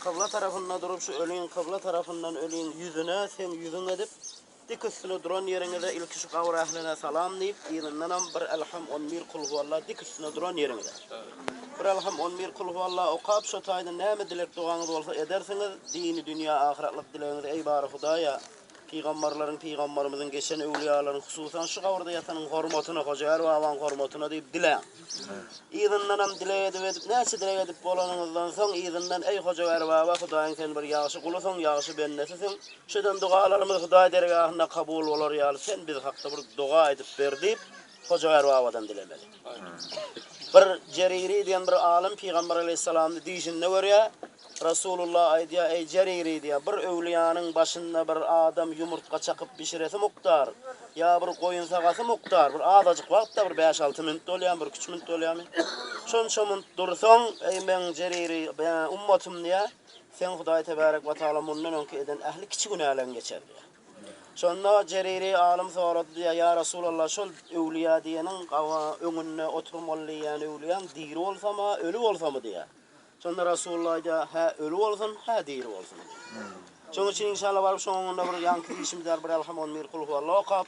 Kybla tarapynda durup, şu öliň kybla tarapyndan öliň ýüzüne, seň ýüzüň edip, dik üstüne duran ýeriňize ilki şu gabyr ähline salam diýip, yzyndanam bir Elham on bir Kul huwalla dik üstüne duran ýeriňize. Bir Elham on bir Kul huwalla okap, şo taýdan näme dilek-dogaňyz bolsa edersiňiz, dini-dünýä ahyratlyk dilegiňizi eý bary Hudaýa, Pygambarlaryň, Pygambarymyzyň, geçen öwlüýalaryň, hususan şu gabyrda ýatanyň hormatyna, Hojaýar babaň hormatyna diýip diläň. Yzyndanam dileg edip edip, näçe dileg edip bolanyňyzdan soň, yzyndan, Eý, Hojaýar baba, Hudaýyň sen bir ýagşy gulusyň, ýagşy bendesisiň. Şu eden dogalarymyz Hudaý dergahynda kabul bolar ýaly, sen biz hakda bir doga edip ber diýip, Hoja Erbabadan dilemeli. Bir Jeriri diýen bir alym Pygamber Aleýhissalamny düýşünde görýär. Resulullah aýdýar, Eý Jeriri diýýär, bir öwliýanyň başynda bir adam ýumurtga çakyp bişiresi mukdar, ýa bir goýun sagasy mukdar, bir azajyk wagtda bir bäş-alty minut bolýamy, bir üç minut bolýamy? Şonça minut dursaň, eý meň Jeriri, eý ummatym diýýär, seň Hudaý Tebärek we Tagala mundan öňki eden ähli kiçi günäleň geçer diýýär. Şonda Jeriri alym sorady diýýär, Ýa Resulallah, şol öwlüýä diýeniň öňünde oturum bol diýýän öwlüýäň diri bolsam-a, öli bolsam-a diýýär. Şonda Resulullah aýdýar, Hä öli bolsun, hä diri bolsun. Şonuň üçin inşallah baryp şoň öňünde bir ýaňky işimiz bar, bir Elham, on bir Kul huwalla okap,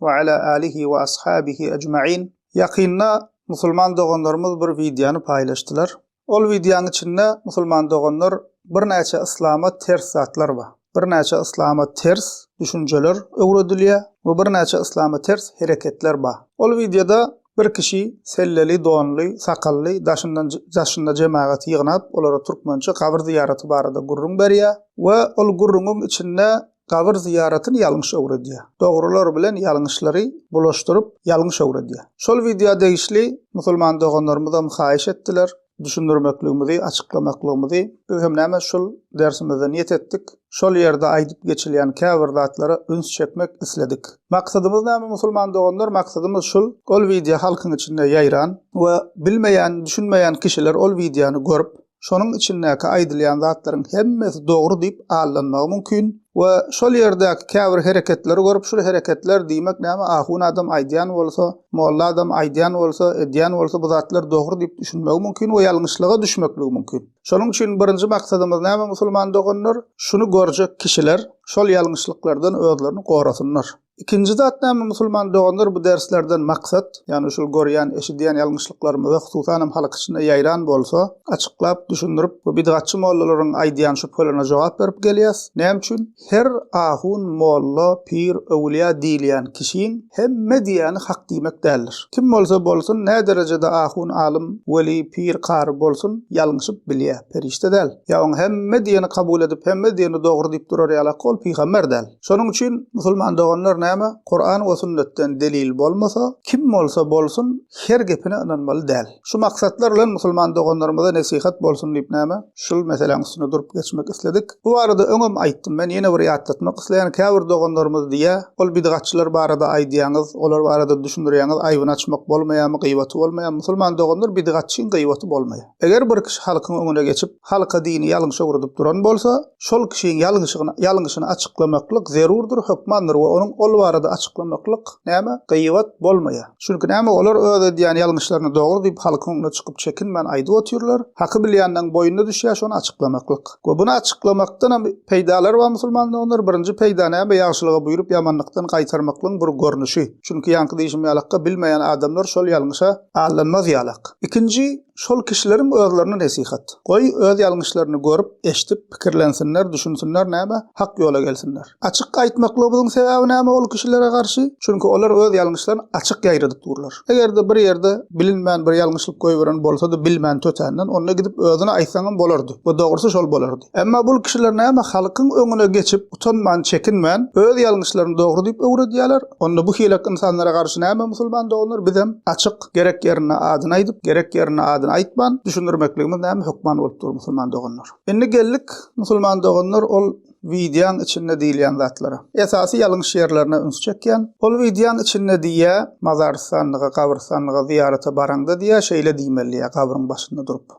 we ala alihi we ashabihi ejmain. Ýakynda musulman doganlarymyz bir wideony paýlaşdylar. Ol wideonyň içinde musulman doganlar birnäçe yslama ters zatlar bar. Birnäçe yslama ters düşünjeler öwredilýär we birnäçe yslama ters hereketler bar. Ol wideoda bir kişi selleli donly, sakally daşyndan daşynda jemagaty ýygnap olara türkmençe gabyr zyýaraty barada gürrüň berýär we ol gürrüňiň içinde Gabyr zyýaratyny ýalňyş öwredýär. Dogrular bilen ýalňyşlary bulaşdyryp ýalňyş öwredýär. Şol wideo degişli musulman doganlarymyzam haýyş etdiler, düşündirmekligimizi, açyklamaklygymyzy. Biz hem näme şul dersimizde niýet etdik. Şol ýerde aýdyp geçilýän käbir zatlara üns çekmek isledik. Maksadymyz näme musulman doganlar maksadymyz şul ol wideo halkyň içinde ýaýran we bilmeýän düşünmeýän kişiler ol wideony görüp, şonuň içindäki aýdylýan zatlaryň hemmesi dogry diýip aldanmagy mümkin we şol ýerdäki käbir hereketleri görüp şul hereketler diýmek näme ahun adam aýdýan bolsa, molla adam aýdýan bolsa, edýän bolsa bu zatlar dogry diýip düşünmegi mümkin we ýalňyşlyga düşmekligi mümkin. Şonuň üçin birinji maksadymyz näme musulman doganlar, şuny görjek kişiler şol ýalňyşlyklardan özlerini gorasynlar. Ikinji zat näme musulman doganlar bu derslerden maksat, ýagny şul görýän, eşidýän ýalňyşlyklarymyzy hususan hem halk içinde ýaýran bolsa, açyklap, düşündirip, bu bidgatçy mollalaryň aýdýan şübhelerine jogap berip gelýäs. Näme üçin? Her ahun, molla, pir, öwülýa diýilýän kişiň hemme diýýäni hak diýmek däldir. Kim bolsa bolsun, nä derejede ahun, alym, weli, pir, kary bolsun, ýalňyşyp bilýä, perişde däl. Ýa oň hemme diýeni kabul edip, hemme diýeni dogry diýip durar ýalak ol pygamber däl. Şonuň üçin, musulman doganlar näme, Kuran we sünnetden delil bolmasa, kim bolsa bolsun, her gepine ynanmaly däl. Şu maksatlar bilen musulman doganlarymyza nesihat bolsun diýip näme, şul meseläň üstünde durup geçmek isledik. Bu barada öňem aýtdym men, ýene bir ýatlatmak isleýän, käbir doganlarymyz diýýä, ol bidgatçylar barada aýdýaňyz, olar barada düşündirýäňiz, aýbyny açmak bolmaýamy, gyýbaty bolmaýamy, musulman doganlar bidgatçyň gyýbaty bolmaýa. Eger bir kişi halkyň öňüne geçip, halka dini ýalňyş öwredip duran bolsa, şol kişiň ýalňyşygyny, ýalňyşyny açyklamaklyk zerurdyr, hökmandyr we onuň ol barada açyklamaklyk, näme, gyýbat, bolmaýar. Çünki näme, olar öz edýän ýalňyşlaryny dogry diýip, halkyň öňüne çykyp çekinmän aýdyp otyrlar. Haky bilýänleň boýnuna düşýär şony açyklamaklyk. We buny açyklamakdan hem peýdalary bar musulman doganlar, birinji peýda näme, ýagşylygy buýrup, ýamanlykdan gaýtarmaklygyň bir görnüşi. Çünki ýaňky diýşim ýalykka, bilmeýän adamlar şol ýalňyşa, allanmaz ýalak. Ikinji, şol kişileriň özlerine nesihat. Goý, öz ýalňyşlaryny görüp, eşdip, pikirlensinler, düşünsinler, näme, hak ýola gelsinler. Açyk aýtmaklygybyzyň sebäbi näme ol kişilere garşy? Çünki olar öz ýalňyşlaryny açyk ýaýradyp durlar. Eger-de bir ýerde bilinmän bir ýalňyşlyk goýberen bolsady bilmän tötänden, onda gidip özüne aýtsaňam bolardy we dogrusy şol bolardy. Emma bul kişiler näme halkyň öňüne geçip utanman çekinmän öz ýalňyşlaryny dogry diýip öwredýäler? Onda bu hileak ynsanlara garşy näme musulman doganlar bizem açyk gerek ýerinde adyny aýdyp gerek ýerinde adyny aýtman düşündirmekligimiz näme hökman bolup dur musulman doganlar. Indi geldik musulman doganlar ol wideaň içinde diýilýän zatlara. Esasy ýalňyş ýerlerine üns çekýän. Ol wideaň içinde diýýä mazarystanlyga gabrystanlyga zyýarata baraňda diýýä şeýle diýmeli diýýä gabryň başynda durup.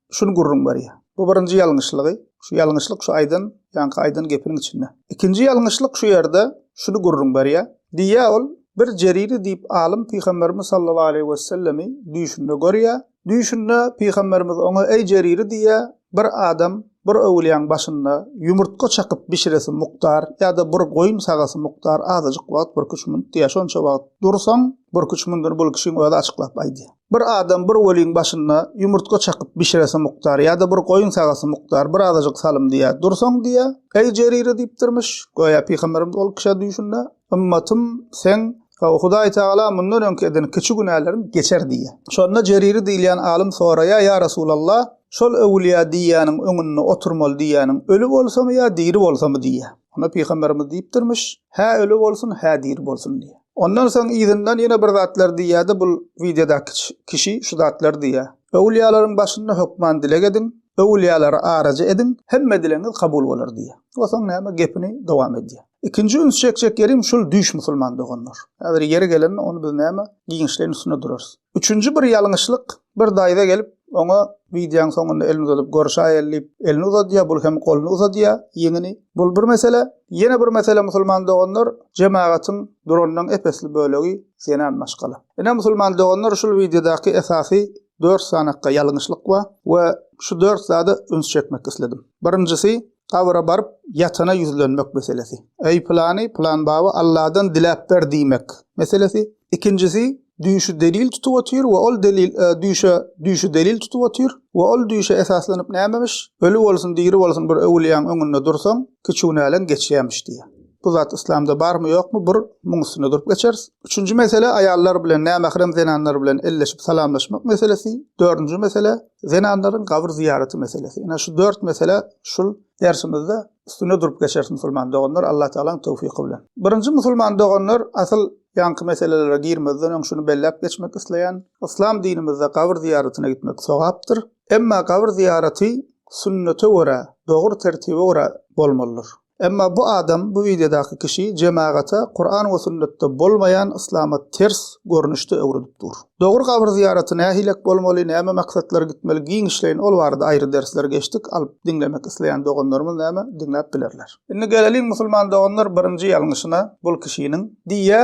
Şuny gürrüň berýär. Bu birinji ýalňyşlygy, şu ýalňyşlyk şu aýdan, ýaňky aýdan gepiniň içinde. Ikinji ýalňyşlyk şu ýerde şuny gürrüň berýär. Diýýär ol, Bir Jeriri diýip alym Pygamberimiz sallallahu aleýhi wessellemi düýşünde görýär. Düýşünde Pygamberimiz oňa Eý Jeriri diýýär, bir adam bir öwülýäň başynda ýumurtga çakyp bişiresi mukdar ýa-da bir goýun sagasy mukdar azajyk wagt bir küçmünt diýýär. Şonça wagt dursaň, bir küçmündini bul kişiň özi açyklap aýdýar. Bir adam bir weliň başynda ýumurtga çakyp bişiresi mukdar ýa-da bir goýun sagasy mukdar bir azajyk salym diýýär. Dursaň diýýär, Eý Jerire diýipdirmiş, göýä pygamberimiz ol kişä düýşünde, Ymmatym, seň, hawa, Hudaý Tagala mundan öňki eden kiçi günäleriň geçer diýýär. Şonda Jerire diýilýän alym soraýar, Ýa Resulallah, şol öwülýä diýýäniň öňünde oturmaly diýýäniň öli bolsamy ýa diri bolsamy diýýär. Onda Pygamberimiz diýipdirmiş, hä öli bolsun, hä diri bolsun diýýär. Ondan soň yzyndan ýene bir zatlar diýýärdi bul wideodaky kişi şu zatlar diýýär. Öwlýalaryň başynda hökman dileg ediň, öwlýalary araja ediň, hemme dilegiňiz kabul bolar diýýär. We soň näme gepini dowam edýär. Ikinji üns çekjek ýerim şul düýş musulman doganlar. Häzir ýeri gelende ony biz näme giňişleýin üstünde durarys. Üçünji bir ýalňyşlyk, bir daýza gelip, oňa wideoň soňunda elini uzadyp görüşäýeli diýip, elini uzadýar, bul hem goluny uzadýar, ýeňini. Bul bir mesele. Ýene bir mesele musulman doganlar, jemagatyň duranynyň ep-esli bölegi zenan maşgala. Ine musulman doganlar şul wideodaky esasy dört sanakga ýalňyşlyk bar we şu dört zada üns çekmek isledim. Birinjisi, gabra baryp ýatana ýüzlenmek meselesi. Eý pylany, pylan baba Alladan diläp ber diýmek meselesi. Ikinjisi düýşi delil tutup otyr we ol delil e, düýşe düýşi delil tutup otyr we ol düýşe esaslanyp nämemiş, öli bolsun, diri bolsun bir öwülýäň öňünde dursaň, kiçunäleň geçýämiş diýýär. Bu zat yslamda barmy ýokmy bir muň üstünde durup geçeris. Üçünji mesele aýallar bilen nämährem zenanlar bilen elleşip salamlaşmak meselesi. Dördünji mesele zenanlaryň gabyr zyýaraty meselesi. Ine şu dört mesele şul dersimizde üstünde durup geçeris musulman doganlar Allah Taalaň towfiky bilen. Birinji musulman doganlar asyl Ýaňky meselelere girmezden öň şuny belläp geçmek isleýän, yslam dinimizde gabyr zyýaratyna gitmek sogapdyr. Emma gabyr zyýaraty sünnete görä, dogry tertibe görä bolmalydyr. Emma bu adam, bu wideodaky kişi jemagata Kuran we sünnetde bolmaýan yslama ters görnüşde öwredip dur. Dogry gabyr zyýaraty nähilek bolmaly, näme maksatlar gitmeli giňişleýin ol barada aýry dersler geçdik, alyp diňlemek isleýän doganlarymyz näme diňläp bilerler. Indi geleliň musulman doganlar birinji ýalňyşyna, bul kişiniň, diýýä,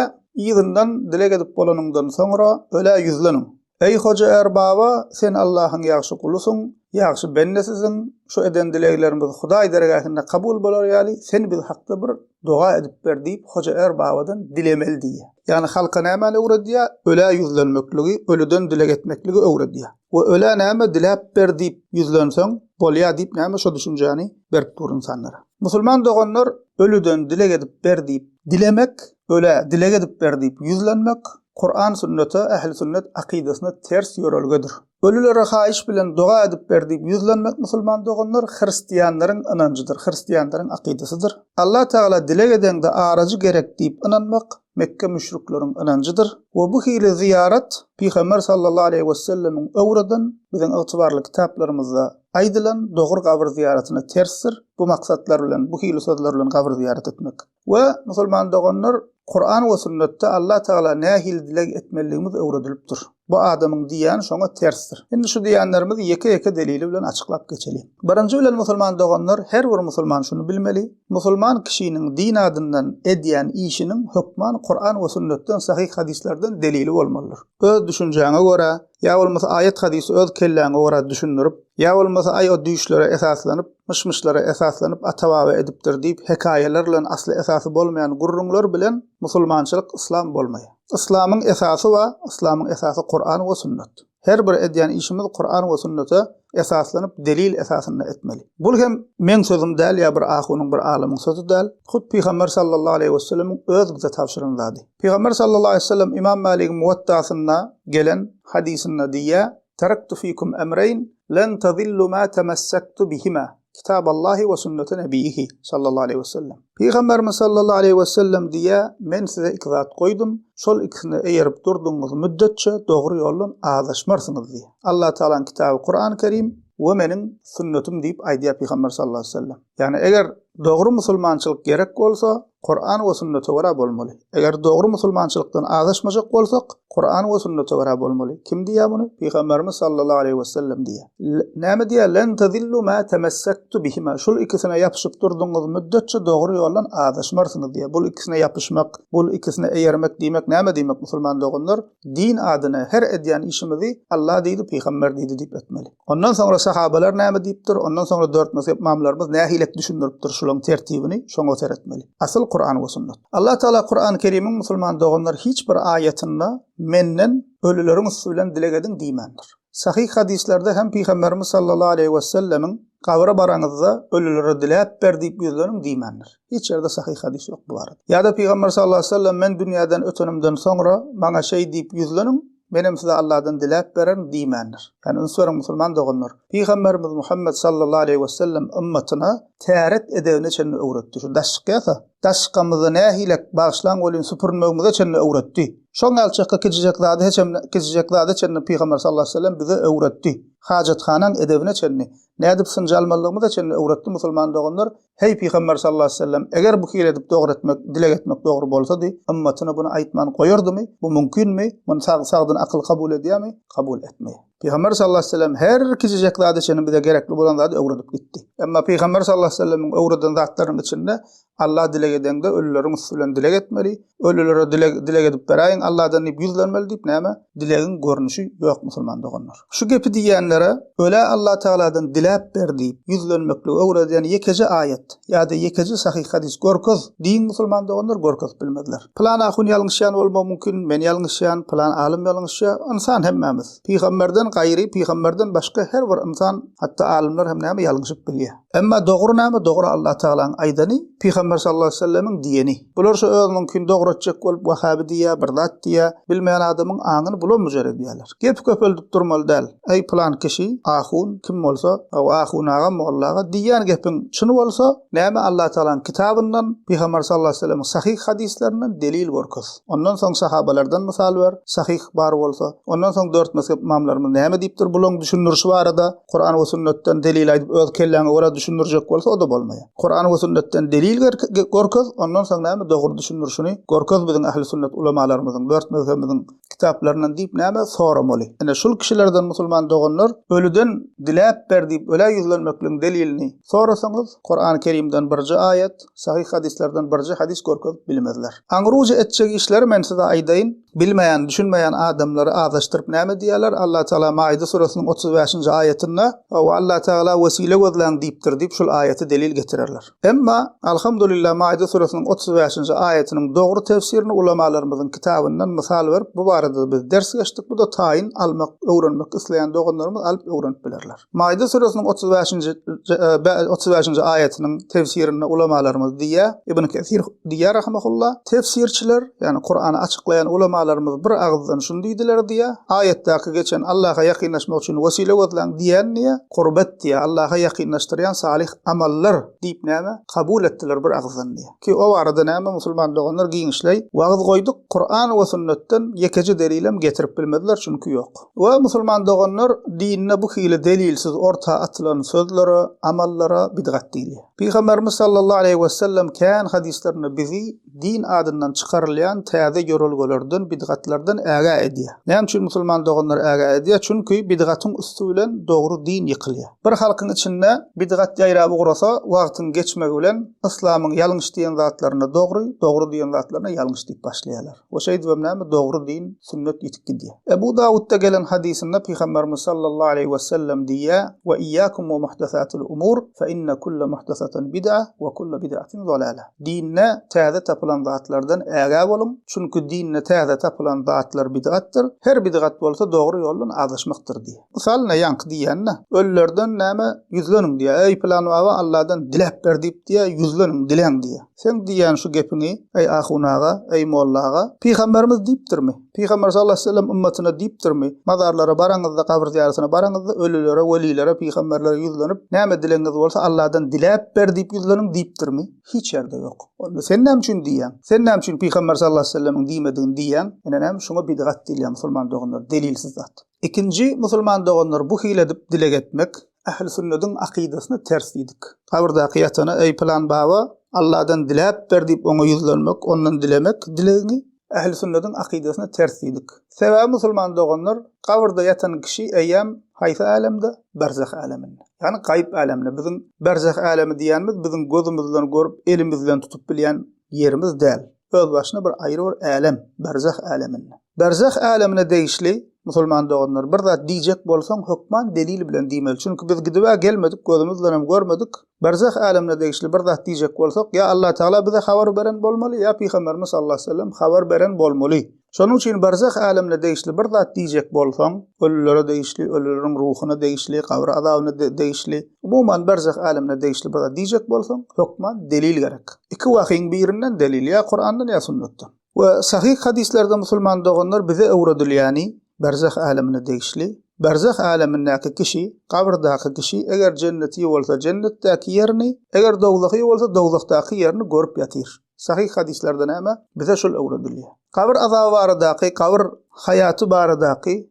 yzyndan dileg edip bolanyňdan soňra, ölä ýüzleniň. Eý Hoja Erbaba, sen Allahyň ýagşy gulusyň, ýagşy bendesiziň, şu eden dileglerimiz Hudaý dergähinde kabul bolar ýaly, sen biz hakda bir doga edip ber diýip Hoja Erbabadan dilemeli diýýä. Ýagny halka nämäni öwredýä? Ölä ýüzlenmekligi, ölüden dileg etmekligi öwredýä. We ölä näme diläp ber diýip ýüzlenseň bolýa diýip näme şo düşünjäni berip dur ynsanlara. Musulman doganlar ölüden dileg edip ber diýip dilemek, ölä dileg edip ber diýip ýüzlenmek Kuran sünnete, ähli sünnet akydasyna ters ýörelgedir. Ölülere haýyş bilen doga edip ber diýip ýüzlenmek musulman doganlar hristianlaryň ynanjydyr, hristianlaryň akydasydyr. Alla Tagala dileg edeňde arajy gerek diýip ynanmak Mekge müşrikleriň ynanjydyr we bu hili zyýarat Pygamber sallallahu aleýhi wesellemiň öwreden, biziň ygtybarly kitaplarymyzda aýdylan dogry gabyr zyýaratyna tersdir, bu maksatlar bilen, bu hili sözler bilen gabyr zyýarat etmek. We, musulman doganlar, Kuran we sünnetde Alla tagala nähili dileg etmelidigimiz öwredilipdir. Bu adamyň diýýäni şoňa tersdir. Indi şu diýýänlerimizi ýeke-ýeke delili bilen açyklap geçeliň. Birinji bilen musulman doganlar, her bir musulman şuny bilmeli, musulman kişiniň din adyndan edýän işiniň hökman Kuran we sünnetden, sahyh hadyslardan delili bolmalydyr. Öz düşünjäňe görä, ýa bolmasa aýat-hadysy öz kelläňe görä düşündirip, ýa bolmasa aý o düýşlere esaslanyp, myş-myşlara esaslanyp ata-baba edipdir diýip hekaýalar bilen asly-esasy bolmaýan gürrüňler bilen musulmançylyk, yslam bolmaýar. Yslamyň esasy ba, yslamyň esasy Kuran we Sunnet. Her bir edýän işimiz Kuran we Sunnete esaslanyp delil esasynda etmeli. Bul hem meň sözüm däl ýa bir ahunyň bir alymyň sözi däl, hut Pygamber sallallahu aleýhi wesellemiň öz bize tabşyran zady. Pygamber sallallahu aleýhi wesellem Imam Maligiň Muwatta'synda gelen hadysynda diýýär, Taraktu fikum emreýn, len tazillu ma temassaktu bihima, Kitaballahi we sünnete nebiýihi, sallallahu aleýhi we sellem. Pygamberimiz, sallallahu aleýhi we sellem, diýýär, Men size iki zat goýdum, şol ikisine eýerip durdugyňyz müddetçe dogry ýoldan azaşmarsyňyz diýýär. Allatagalaň kitaby Kurany Kerim we meniň sünnetim diýip aýdýar Pygamber, sallallahu aleýhi we sellem. Ýagny eger dogry musulmançylyk gerek bolsa, Kuran we sünnete görä bolmaly. Eger dogry musulmançylykdan azaşmajak bolsak, Kuran we sünnete görä bolmaly. Kim diýýär muny? Pygamberimiz sallallahu aleýhi we sellem diýýär. Näme diýýär? Len tazillu ma tamassaktu bihima. Şul ikisine ýapyşyp durdyňyz müddetçe dogry ýoldan azaşmarsyňyz diýýär. Bul ikisine ýapyşmak, bul ikisine eýermek diýmek näme diýmek musulman doganlar? Din adyna her edýän işimizi Alla diýdi, pygamber diýdi diýip etmeli. Ondan soňra sahabalar näme diýipdir, ondan soňra dört mezhep imamlarymyz nähilek düşündiripdir şulaň tertibini, şoňa seretmeli. Asyl Kuran we sunnet. Allah Taala Kurany Kerimiň musulman doganlar hiç bir aýatynda menden ölüleriň üsti bilen dileg ediň diýmändir. Sahyh hadyslerde hem Pygamberimiz sallallahu aleýhi wesellemiň, Gabra baraňyzda, ölülere diläp ber diýip ýüzleniň diýmändir. Hiç ýerde sahyh hadys ýok bu barada. Ýa-da Pygamber sallallahu aleýhi wesellem, Men dünýäden ötenimden soňra, maňa şeý diýip ýüzleniň, menem size Allahdan diläp bererin diýmändir. Ýani üns beriň musulman doganlar, Pygamberimiz Muhammet sallallahu aleýhi wesellem ymmatyna täret edebine çenli öwretdi. Şu daş çykýasa, Daşkamyzy nähilek bagyşlaň welin süpürmegimize çenli öwretdi. Şoň ýaly çykgy kicijek zady heçem kicijek zada çenli Pygamber sallallahu aleyhi ve sellem bize öwretdi. Hajathanaň edebine çenli, nädip synjy almalygymyza çenli öwretdi musulman doganlar, heý Pygamber sallallahu aleyhi ve sellem eger bu hili edip dogry etmek, dileg etmek dogry bolsady, ymmatyna buny aýtman goýardymy, bu mümkinmi, muny sag sagdyn akyl kabul edýämi, kabul etmeýär. Pygamber sallallahu aleyhi ve sellem her kiçijek zady çenli bize gerekli bolan zady öwredip gitdi. Emma Pygamber sallallahu aleyhi ve sellemin öwreden zatlarynyň içinde Allah dileg edende ölüleriň üstü bilen dileg etmeli, ölülere dileg, dileg edip beräýin Allah'dan diýip ýüzlenmeli diýip näme? Dilegiň görnüşi ýok musulman doganlar. Şu gepi diýýänlere ölä Allah Taala'dan diläp ber diýip ýüzlenmekli öwreden ýekeje aýat. Ýa-da ýekeje sahyh hadys görkez diýiň musulman doganlar görkezip bilmezler. Pylan ahun ýalňyşýan bolmagy mumkin, men ýalňyşýan, pylan alym ýalňyşýa, ynsan hemmämiz. Pygamberden gaýry, pygamberden başga her bir ynsan, hatda alymlar hem näme ýalňyşyp bilýä. Emma dogry näme dogry Allah Tagalaň aýdany, pygamber sallallahu aleýhi wesellemiň diýeni. Bular şo özüniňkini dogry etjek bolup wahabi diýýä, bir zat diýýä, bilmeýän adamyň aňyny bulam mujar edýäler. Gep köpeldip durmaly däl. Eý, pylan kişi, ahun, kim bolsa, hawa, ahun aga, molla aga, diýýän gepiň çyn bolsa, näme Allatagalaň kitabyndan, Pygamber sallallahu aleýhi we sellemiň sahyh hadyslerinden delil görkez. Ondan soň sahabalardan mysal ber, sahyh bar bolsa. Ondan soň dört mezhep ymamlarymyz näme diýipdir bulaň düşündirişi barada? Kuran we sünnetden delil aýdyp öz kelläňe görä düşündirjek bolsa o-da bolmaýar. Kuran we sünnetden delil gerke, görkez, ondan soň näme dogry düşündirişini görkez biziň ähli sünnet ulamalarymyzyň, dört mezhebimiziň kitaplaryndan diýip näme soramaly? Ine şul kişilerden musulman doganlar ölüden diläp ber diýip ölä ýüzlenmekligiň delilini sorasaňyz Kurany Kerimden birje aýat, sahyh hadyslardan birje hadys görkezip bilmezler. Aňryja etjek işleri men size aýdaýyn, bilmeýän, düşünmeýän adamlary azaşdyryp näme diýerler, Allah Taala Maide surasynyň otuz bäşinji aýatynda, Hawa Allah Taala wesile gözläň diýipdir diýip şul aýaty delil getirerler. Emma, alhamdulillah, Maide süresiniň otuz bäşinji aýatynyň dogry tefsirini ulamalarymyzyň kitabyndan mysal berip, bu barada-da biz ders geçdik, bu-da taýyn almak, öwrenmek isleýän doganlarymyz alyp öwrenip bilerler. Maide süresiniň otuz bäşinji otuz bäşinji aýatynyň tefsirinde ulamalarymyz diýýär, Ibn Kesir diýýär rahimehullah, Tefsirçiler, ýagny Kurany açyklaýan ulamalarymyz bir agyzdan şuny diýdiler diýýär, Aýatdaky geçen Allaha ýakynlaşmak üçin wesile gözläň diýýän diýýär, Kurbat diýýär, Allaha ýakynlaşdyrýan salyh Amallar, diýip näme, kabul etdiler bir agyzdan diýýär. Ki o barada näme musulman doganlar giňişleý wagyz goýduk, Kuran we sünnetden ýekeje delilem getirip bilmediler çünki ýok. We musulman doganlar dinde bu hili delilsiz orta atylan sözlere, amallara bidgat diýilýär. Pygamberimiz sallallahu aleýhi wesellem kän hadyslarynda bizi din adyndan çykarylýan täze ýörelgelerden, bidgatlardan ägä edýär. Näme üçin musulman doganlar ägä edýär? Çünki bidgatyň üsti bilen dogry din ýykylýar. Bir halkyň içinde bidgat ýaýrap ugrasa, wagtyň geçmegi bilen yslamyň ýalňyş diýen zatlaryna dogry, dogry diýen zatlaryna ýalňyş diýip başlaýarlar. We şeýdibem näme, dogry din, sünnet ýitip gidýär. Ebu Dawutda gelen hadysynda Pygamberimiz sallallahu aleýhi we sellem diýýär, Wa iyyakum wa muhdasatil umur, fe inne kulle muhdasatin bid'a, wa kulle bid'atin zalala. Dinde täze tapylan zatlardan ägä boluň, çünki dinde täze tapylan zatlar bidgatdyr, her bidgat bolsa dogry ýoldan azaşmakdyr diýýär. Mysal ine ýaňky diýýän-de, ölülerden näme, ýüzleniň diýýär, eý pylan baba Alladan diläp ber diýip diýýär, ýüzleniň, diläň diýýär. Seň diýýän şu gepiňi, eý ahun aga, eý molla aga, pygamberimiz diýipdirmi? Pygamber sallallahu aleýhi we sellem ümmetine diýipdirmi, Mazarlara baraňyzda, gabyr zyýaratyna baraňyzda, ölülere, welilere, pygamberlere ýüzlenip, Näme dilegiňiz bolsa, Allahdan diläp ber diýip ýüzleniň diýipdirmi? Hiç ýerde ýok. Onda sen näme üçin diýýäň? Sen näme üçin Pygamber sallallahu aleýhi we sellemiň diýmedigini diýýäň? Ine näme şuňa bidgat diýilýär musulman doganlar, delilsiz zat. Ikinji musulman doganlar bu hili edip dileg etmek Ähli sünnediň akydasyna ters diýdik. Gabyrdaky ýatana, eý pylan baba, Allahdan diläp ber diýip oňa ýüzlenmek, ondan dilemek dilegiňi, Ähli sünnetiň akydasyna ters diýdik. Sebäbi musulman doganlar gabyrda ýatan kişi eýýäm haýsy älemde? Berzah äleminde. Ýagny gaýyp äleminde. Biziň berzah älemi diýýänimiz biziň gözümiz bilen görüp, elimiz bilen tutup bilýän ýerimiz däl. Özbaşyna bir aýry bir älem, berzah äleminde. Berzah älemine degişli musulman doganlar bir zat diýjek bolsaň hökman delil bilen diýmeli. Çünki biz gidibä gelmedik, gözümiz bilen hem görmedik. Berzah älemine degişli bir zat diýjek bolsak, ýa Allatagala bize habar beren bolmaly, ýa Pygamberimiz sallallahu aleýhi we sellem habar beren bolmaly. Şonuň üçin berzah älemine degişli bir zat diýjek bolsaň, ölülere degişli, ölüleriň ruhuna degişli, gabyr azabyna degişli, umuman berzah älemine degişli bir zat diýjek bolsaň, hökman delil gerek. Iki wahyň birinden delil, ýa Kurandan, ýa sünnetden. We sahyh hadyslerde musulman doganlar bize öwredilýäni, berzah älemine degişli, berzah älemindäki kişi, gabrdaky kişi eger jenneti bolsa jennetdäki ýerini, eger dowzahy bolsa dowzahdaky ýerini görüp ýatyr. Sahyh hadyslarda näme? Bize şul öwredilýär. Gabr azaby baradaky, gabr haýaty baradaky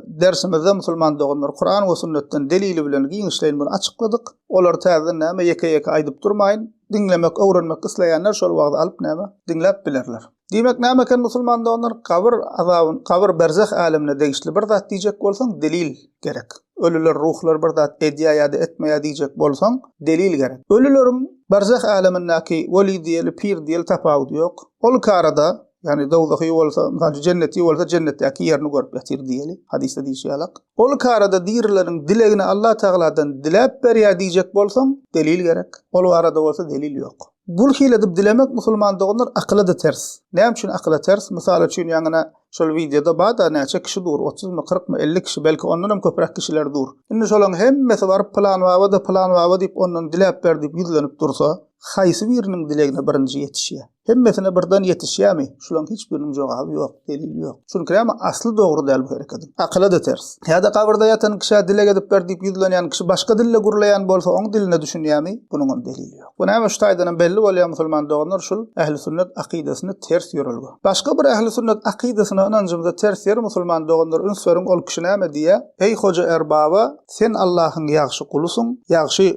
dersimizde musulman doganlar Kuran we sünnetden delili bilen giňişleýin muny açykladyk. Olary täzeden näme ýeke-ýeke aýdyp durmaýyn. Diňlemek, öwrenmek isleýänler şol wagyz alyp näme, diňläp bilerler. Diýmek näme eken musulman doganlar, gabyr azabyn, gabyr berzeh älemine degişli bir zat diýjek bolsaň delil gerek. Ölüler, ruhlar bir zat edýä ýa-da etmeýä diýjek bolsaň delil gerek. Ölüleriň berzeh älemindäki weli diýeli, pir diýeli tapawudy ýok. Ol karada Yani dowzahy bolsa, misal jenneti bolsa jennetdäki ýerini görüp ýatyr diýeli. Hadysda diýşi ýalak. Ol karada dirileriň dilegini Allah Tagaladan diläp berýär diýjek bolsaň, delil gerek. Ol barada bolsa delil ýok. Bul hili edip dilemek musulman doganlar akyla-da ters. Näme üçin akyla ters? Mysal üçin ýaňyna şol wideoda bar-da näçe kişi dur, otuzmy, kyrkmy, elli kişi, belki ondan hem köpräk kişiler dur. Indi şolaň hemmesi baryp pylan baba-da, pylan baba diýip ondan diläp ber diýip ýüzlenip dursa, haýsy biriniň dilegine birinji ýetişýär? Hemmesine birden yetişýämi? Şulaň hiç biriniň jogaby ýok, delil ýok. Çünki näme asly dogry däl bu herekediň. Akyla-da ters. Ýa-da gabyrda ýatan kişä dileg edip ber diýip ýüzlenýän kişi başga dilde gürleýän bolsa oň diline düşünýämi? Bunuňam delili ýok. Bu näme şu taýdanam belli bolýar musulman doganlar şul ähli sünnet akydasyny ters ýörelge. Başga bir ähli sünnet akydasyna ynanjymyza ters ýer musulman doganlar üns beriň ol kişi näme diýýä? Eý hoja erbaba Sen Allahyň ýagşy gulusyň, ýagşy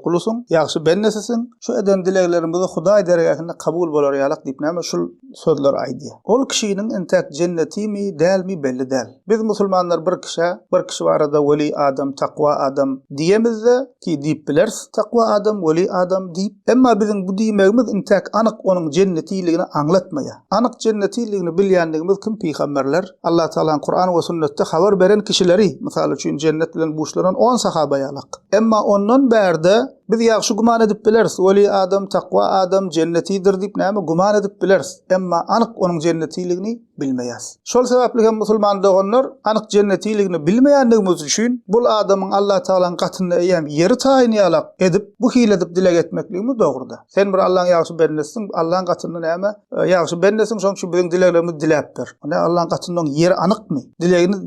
gulusyň, ýagşy bendesisiň, şu eden dileglerimizi Hudaý dergähinde kabul bolar ýalak diýip näme şul sözleri aýdýar. Ol kişiniň entäk jennetimi, dälmi belli däl. Biz musulmanlar bir kişä, bir kişi barada weli adam, takwa adam diýemizde, ki diýip bileris, takwa adam, weli adam diýip, emma biziň bu diýmegimiz entäk anyk onuň jennetiligini aňlatmaýar. Anyk jennetiligini bilýändigimiz kim pygamberler, Allah Tagalaň Kuran we sünnetde habar beren kişileri, mysal üçin jennet bilen buşlanan on sahaba ýalak. Emma ondan bärde biz ýagşy güman edip bileris, weli adam, takwa adam jennetidir diýip näme güman edip bileris, emma anyk onuň jennetiligini bilmeýäs. Şol sebäpli hem musulman doganlar anyk jennetiligini bilmeýändigimiz üçin bul adamyň Allah Tagalaň gatynda eýýäm ýeri taýyn ýalak edip bu hili edip dileg etmekligimiz dogry däl. Sen bir Allah'yň ýagşy bendesiň, Allah'yň gatynda näme? E, ýagşy bendesiň, şoň şu biziň dileglerimizi diläp ber. Näme Allah'yň gatynda oň ýeri anykmy? Dilegini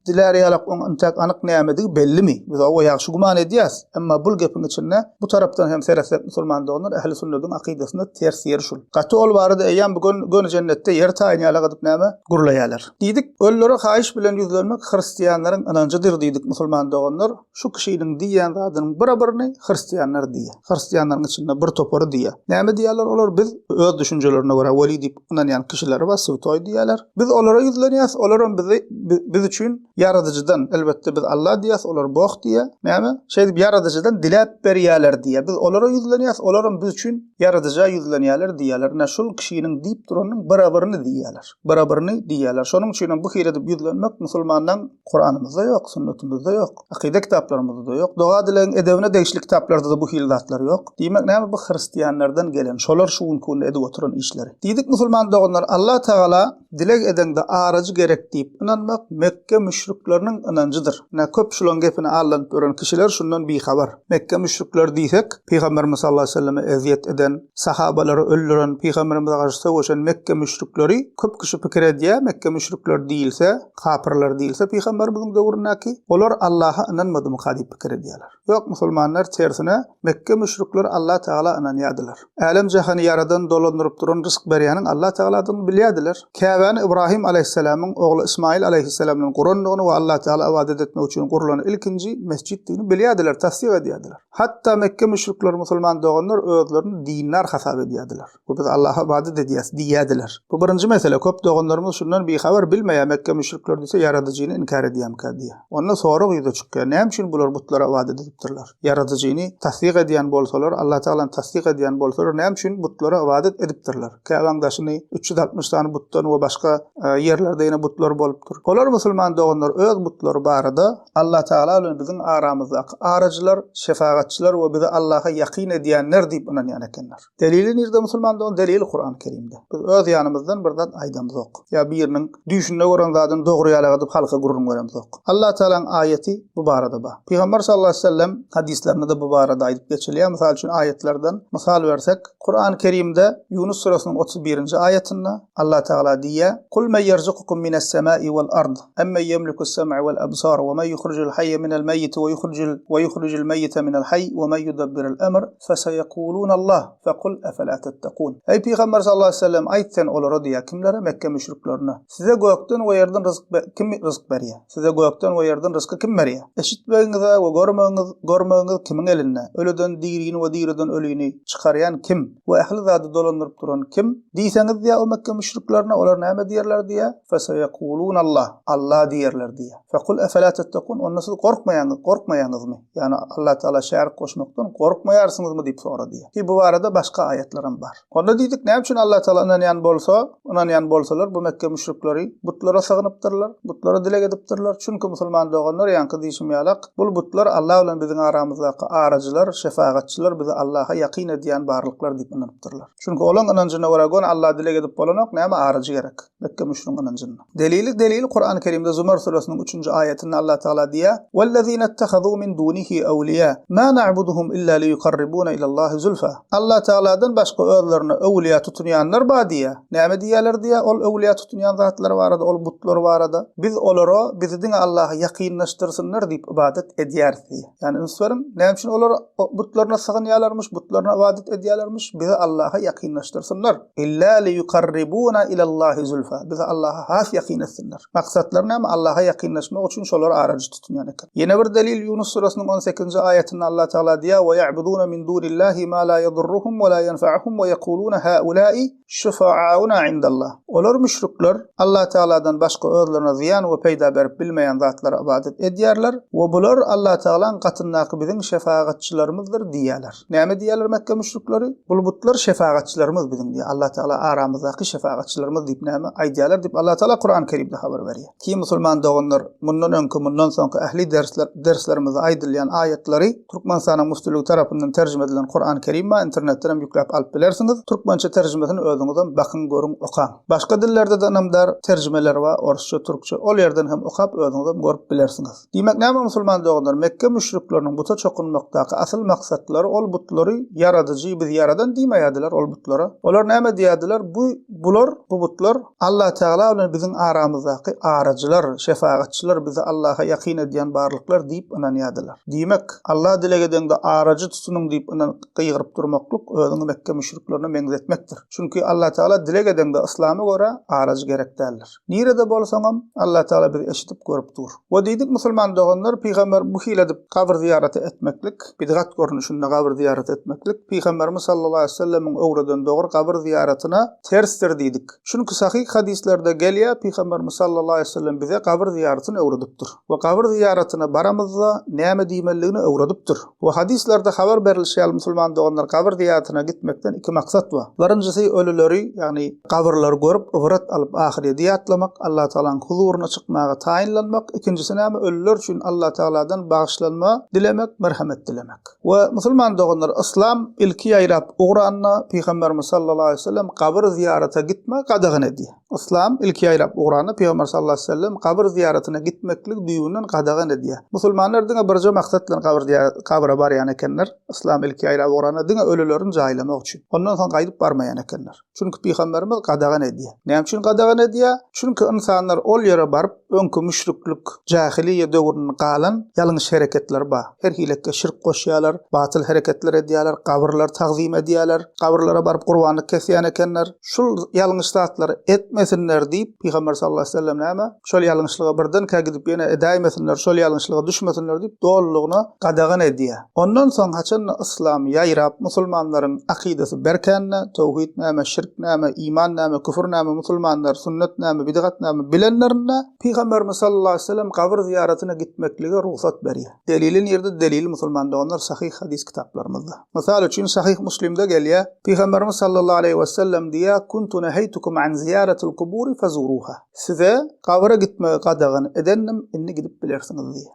diläri ýalak oň intäk anyk nämedigi bellimi? Biz oňa ýagşy güman edýäs. Emma bul gepiň içinde bu tarapdan hem seretsek musulman doganlar ähli sünnediň akydasynda ters ýeri şul. Gaty ol barada eýýäm bu gün göni jennetde ýer taýyn ýala gadyp näme? Gurlaýarlar. Diýdik, öllere haýyş bilen ýüzlenmek hristianlaryň ynanjydyr diýdik musulman doganlar. Şu kişiniň diýýän zadynyň bira-birini hristianlar diýýär. Hristianlaryň içinde bir topary diýýär. Näme diýýärler olar? Biz öz düşünjelerine görä weli diýip ynanýan kişileri bar, swtoý diýýärler. Biz olara ýüzlenýäs, olaram bizi biz üçin Ýaradyjydan, elbetde biz Alla diýýäs, olar Bog diýýär. Näme? Şeýdip Ýaradyjydan diläp berýärler diýýär. Biz olara ýüzlenýäs, olaram biz üçin Ýaradyja ýüzlenýärler, diýýärler, Ine, şul kişiniň diýip duranynyň barabaryny diýýärler. Barabaryny diýýärler. Şonuň üçin hem bu hili edip ýüzlenmek musulmanlaň Kuranymyzda ýok, sünnetimiz-de ýok, akyda kitaplarymyzda-da ýok. Doga-dilegiň edebine degişli kitaplarda-da bu hili zatlar ýok. Diýmek, näme bu hristianlardan gelen, şolar şu günki günde edip oturan işleri. Diýdik, musulman doganlar, Alla Tagala, Dileg edeňde arajy gerek diýip ynanmak Mekge müşrikleriniň ynanjydyr. Ine, köp şulaň gepine aldanyp ýören kişiler şundan bihabar. Mekge müşrikleri diýsek, Pygamberimiz sallallahu aleýhi we selleme ezýet eden, sahabalary öldüren, pygamberimize garşy söweşen Mekge müşrikleri. Köp kişi pikir edýär, Mekge müşrikleri diýilse, kapyrlar diýilse pygamberimiziň döwründäki, olar Allaha ynanmadymyka diýip pikir edýärler. Ýok, musulmanlar tersine, Mekge müşrikleri Allah Tagala ynanýardylar. Älem jahany ýaradan, dolandyryp duran, rysk berýäniň Allah Tagaladygyny bilýärdiler. Käbäni Ybrahym alaýhyssalamyň ogly Ysmaýyl alaýhyssalam bilen gurandygyny we Allah Tagala ybadat etmek üçin gurlan ilkinji mesjitdigini bilýärdiler, tassyk edýärdiler. Hatda Mekge müşrikleri musulman doganlar özlerini dindar hasap edýärdiler. we biz Allaha ybadat edýäs diýýärdiler. Bu birinji mesele, köp doganlarymyz şundan bihabar, bilmeýär, Mekge müşrikleri diýse Ýaradyjyny inkär edýärmikä diýýär. Onda sorag ýüze çykýar, näme üçin bular butlara ybadat edipdirler? Ýaradyjyny tassyk edýän bolsalar, Allatagalany tassyk edýän bolsalar, näme üçin butlara ybadat edipdirler? Käbäň daşyny üç ýüz altmyş sany butdan we başga ýerlerde ýene butlar bolupdyr. Olar musulman doganlar öz butlary barada, Allatagala bilen biziň aramyzdaky arajylar, şefagatçylar we bizi Allaha ýakyn edýänler diýip ynanýan ekenler. Delili nirde musulmandygyň delili Kurany Kerimde. Biz öz ýanymyzdan bir zat aýdamzok. Ýa biriniň düýşünde gören zadyny dogry ýalak edip halka gürrüň beremzok. Allah Tagalaň aýaty bu barada bar. Pygamber sallallahu aleyhi ve sellem hadyslarynda-da bu barada aýdyp geçilýär. Mysal üçin aýatlardan mysal bersek, Kurany Kerimde Ýunus suresynyň otuz birinji aýatynda Allah Tagala diýýär, Kul men ýerzukukum mines semai wal ard, emmen ýemlikus sem'a wal absar, we men ýuhrujul haýýe minel meýiti we ýuhrujul we ýuhrujul meýite minel haýy we men ýudabbirul emr, Feseýekuulunallah, fekul efela tettekûn. Eý, pygamber sallallahu aleýhi we sellem, aýt sen olara diýýär, kimlere, Mekge müşriklerine, Size gökden we ýerden ryzyk be, kim ryzyk berýär? Size gökden we ýerden ryzky kim berýär? Eşitmegiňiz-ä we görmegiňiz, görmegiňiz kimiň elinde? Ölüden dirini we diriden ölüni çykarýan kim? We ähli zady dolandyryp duran kim? Diýseňiz diýýär, o Mekge müşriklerine, olar näme diýerler diýýär? Feseýekuulunallah, Alla diýerler diýýär. Fekul efela tettekûn, onda siz gorkmaýaňyz, gorkmaýaňyzmy? Ýagny Allatagala şärik goşmakdan gorkmaýarsyňyzmy diýip sorady. Ki bu barada başga aýatlaram bar. Onda diýdik, näme üçin Allatagala ynanýan bolsa, ynanýan bolsalar bu Mekge müşrikleri butlara sygynypdyrlar, butlara dileg edipdirler. Çünki musulman doganlar ýaňky diýşim ýalak, bul butlar Alla bilen biziň aramyzdaky arajylar, şefagatçylar, bizi Allaha ýakyn edýän barlyklar diýip ynanypdyrlar. Çünki olaň ynanjyna görä göni Alla dileg edip bolanok, näme arajy gerek. Mekge müşrüň ynanjyny. Delili delil Kur'an-ı Kerimde Zumar suresiniň 3-nji aýatynda Allah Taala diýýär: "Wellezine ittehazû min dûnihi ewliýâ, mâ na'buduhum illâ liýukarribûne ilallâhi zulfâ." Allah Taala'dan başga özlerine öwliýa tutunýanlar bar diýýär. Näme diýýärler diýýär ol öwliýa tutunýan zatlar barada, ol butlar barada? Biz olara bizi diňe Allaha ýakynlaşdyrsynlar diýip ybadat edýäris diýýär. Ýagny üns beriň, näme üçin olar butlaryna sygynýarlarmyş, butlaryna ybadat edýärlermiş, bizi Allaha ýakynlaşdyrsynlar. Illa liýukarribuna ilallahi zulfa, bizi Allaha has ýakyn etsinler. Maksatlary näme, Allaha ýakynlaşmak üçin şolary arajy tutunýan eken. Ýene bir delil, Ýunus surasynyň on sekizinji aýatynda Allah Tagala diýýär, Weýa'buduna min dunillahi ma la ýedurruhum we la ýenfa'uhum weýekuluna ha'ula'i Şüfa'auna indallah. Olar, müşrikler, Allatagaladan başga özlerine zyýan we peýda berip bilmeýän zatlara ybadat edýärler we bular Allatagalaň gatyndaky biziň şefagatçylarymyzdyr diýýärler. Näme diýýärler Mekge müşrikleri? Bul butlar şefagatçylarymyz biziň diýýär. Allatagala aramyzdaky şefagatçylarymyz diýip näme aýdýarlar diýip Allatagala Kurany Kerimde habar berýär. Ki musulman doganlar, mundan öňki, mundan soňky ähli dersler, derslerimizde aýdylýan aýatlary Türkmenistanyň Müftüligi tarapyndan terjime edilen Kuran Kerim bar, internetden hem ýükläp alyp bilersiňiz. Türkmençe terjimesini özüňizem bakyň, görüň, okaň. Başga dillerde-de ynamdar terjimeler bar, orsça, türkçe. Ol ýerden hem okap, özüňizem görüp bilersiňiz. Diýmek, näme musulman doganlar, Mekge müşrikleriniň buta çokunmakdaky asyl maksatlary, ol butlary Ýaradyjy, biz ýaradan diýmeýärdiler ol butlara. Olar näme diýýärdiler, bu, bular, bu butlar Allatagala bilen biziň aramyzdaky araçylar, şefagatçylar, bizi Allaha ýakyn edýän barlyklar diýip ynanýardylar. Diýmek, Alla dileg edeňde araçy tutunyň diýip ynan, gygyryp durmaklyk, özüňi Mekge müşriklerine meňzetmekdir. Çünki Allatagala dileg edeňde yslama görä araçy gerek däldir. Nirede bolsaňam, Allah Taala bizi eşidip görüp dur. We diýdik musulman doganlar, pygamber bu hili edip gabyr zyýaraty etmeklik, bidgat görnüşinde gabyr zyýaraty etmeklik pygamberimiz sallallahu aleýhi wesellemiň öwreden dogry gabyr zyýaratyna tersdir diýdik. Çünki sahyh hadyslerde gelýär pygamberimiz sallallahu aleýhi wesellem bize gabyr zyýaratyny öwredipdir. We gabyr zyýaratyna baramyzda näme diýmeliligini öwredipdir. We hadyslarda habar berilişi ýaly musulman doganlar gabyr zyýaratyna gitmekden iki maksat bar. Birinjisi ölüleri, ýagny, Gabyrlary görüp ybrat alyp ahyredi ýatlamak, Allatagalaň huzuryna çykmaga taýynlanmak, ikinjisi näme ölüler üçin Allatagaladan bagyşlanma dilemek, merhemet dilemek. We musulman doganlar yslam ilki ýaýrap ugranda Pygamberimiz sallallahu aleýhi we sellem gabyr zyýarata gitmegi gadagan edýär. Yslam ilki ýaýrap ugranda Pygamber sallallahu aleýhi we sellem gabyr zyýaratyna gitmekligi düýbünden gadagan edýär. Musulmanlar diňe birje maksat bilen gabyr zyýaraty gabra barýan ekenler, yslam ilki ýaýrap ugranda diňe ölülerini jaýlamak üçin. Ondan soň gaýdyp barmaýan ekenler. Çünki pygamberimiz gadagan edýär. Näme üçin gadagan edýär? Çünki ynsanlar ol ýere baryp, öňki müşriklik, jahiliýe döwründen galan ýalňyş hereketler bar. Her hiletde şirk goşýarlar, batyl hereketler edýärler, gabyrlary tagzym edýärler, gabyrlara baryp gurbanlyk kesýän ekenler. Şul ýalňyş zatlary etmesinler diýip, pygamber sallallahu aleyhi ve sellem näme? Şol ýalňyşlyga birdenkä gidip ýene edäýmesinler, şol ýalňyşlyga düşmesinler diýip, dolulygyna gadagan edýär. Ondan soň haçanda yslam ýaýrap, musulmanlaryň akydasy berkände, towhid näme, şirk näme, iman näme, küfür näme, musulmanlar sünnet näme, bidgat näme bilenlerinde, Pygamberimiz sallallahu aleýhi we sellem gabyr zyýaratyna gitmeklige rugsat berýär. Delili nirde? Delili musulman doganlar sahyh hadys kitaplarymyzda. Mysal üçin sahyh Muslimde gelýär, Pygamberimiz sallallahu aleýhi we sellem diýýär, Kuntu neheýtukum an zyýaratil kuburi fezuruha. Size gabyra gitmegi gadagan edendim, indi gidip bilersiňiz diýýär.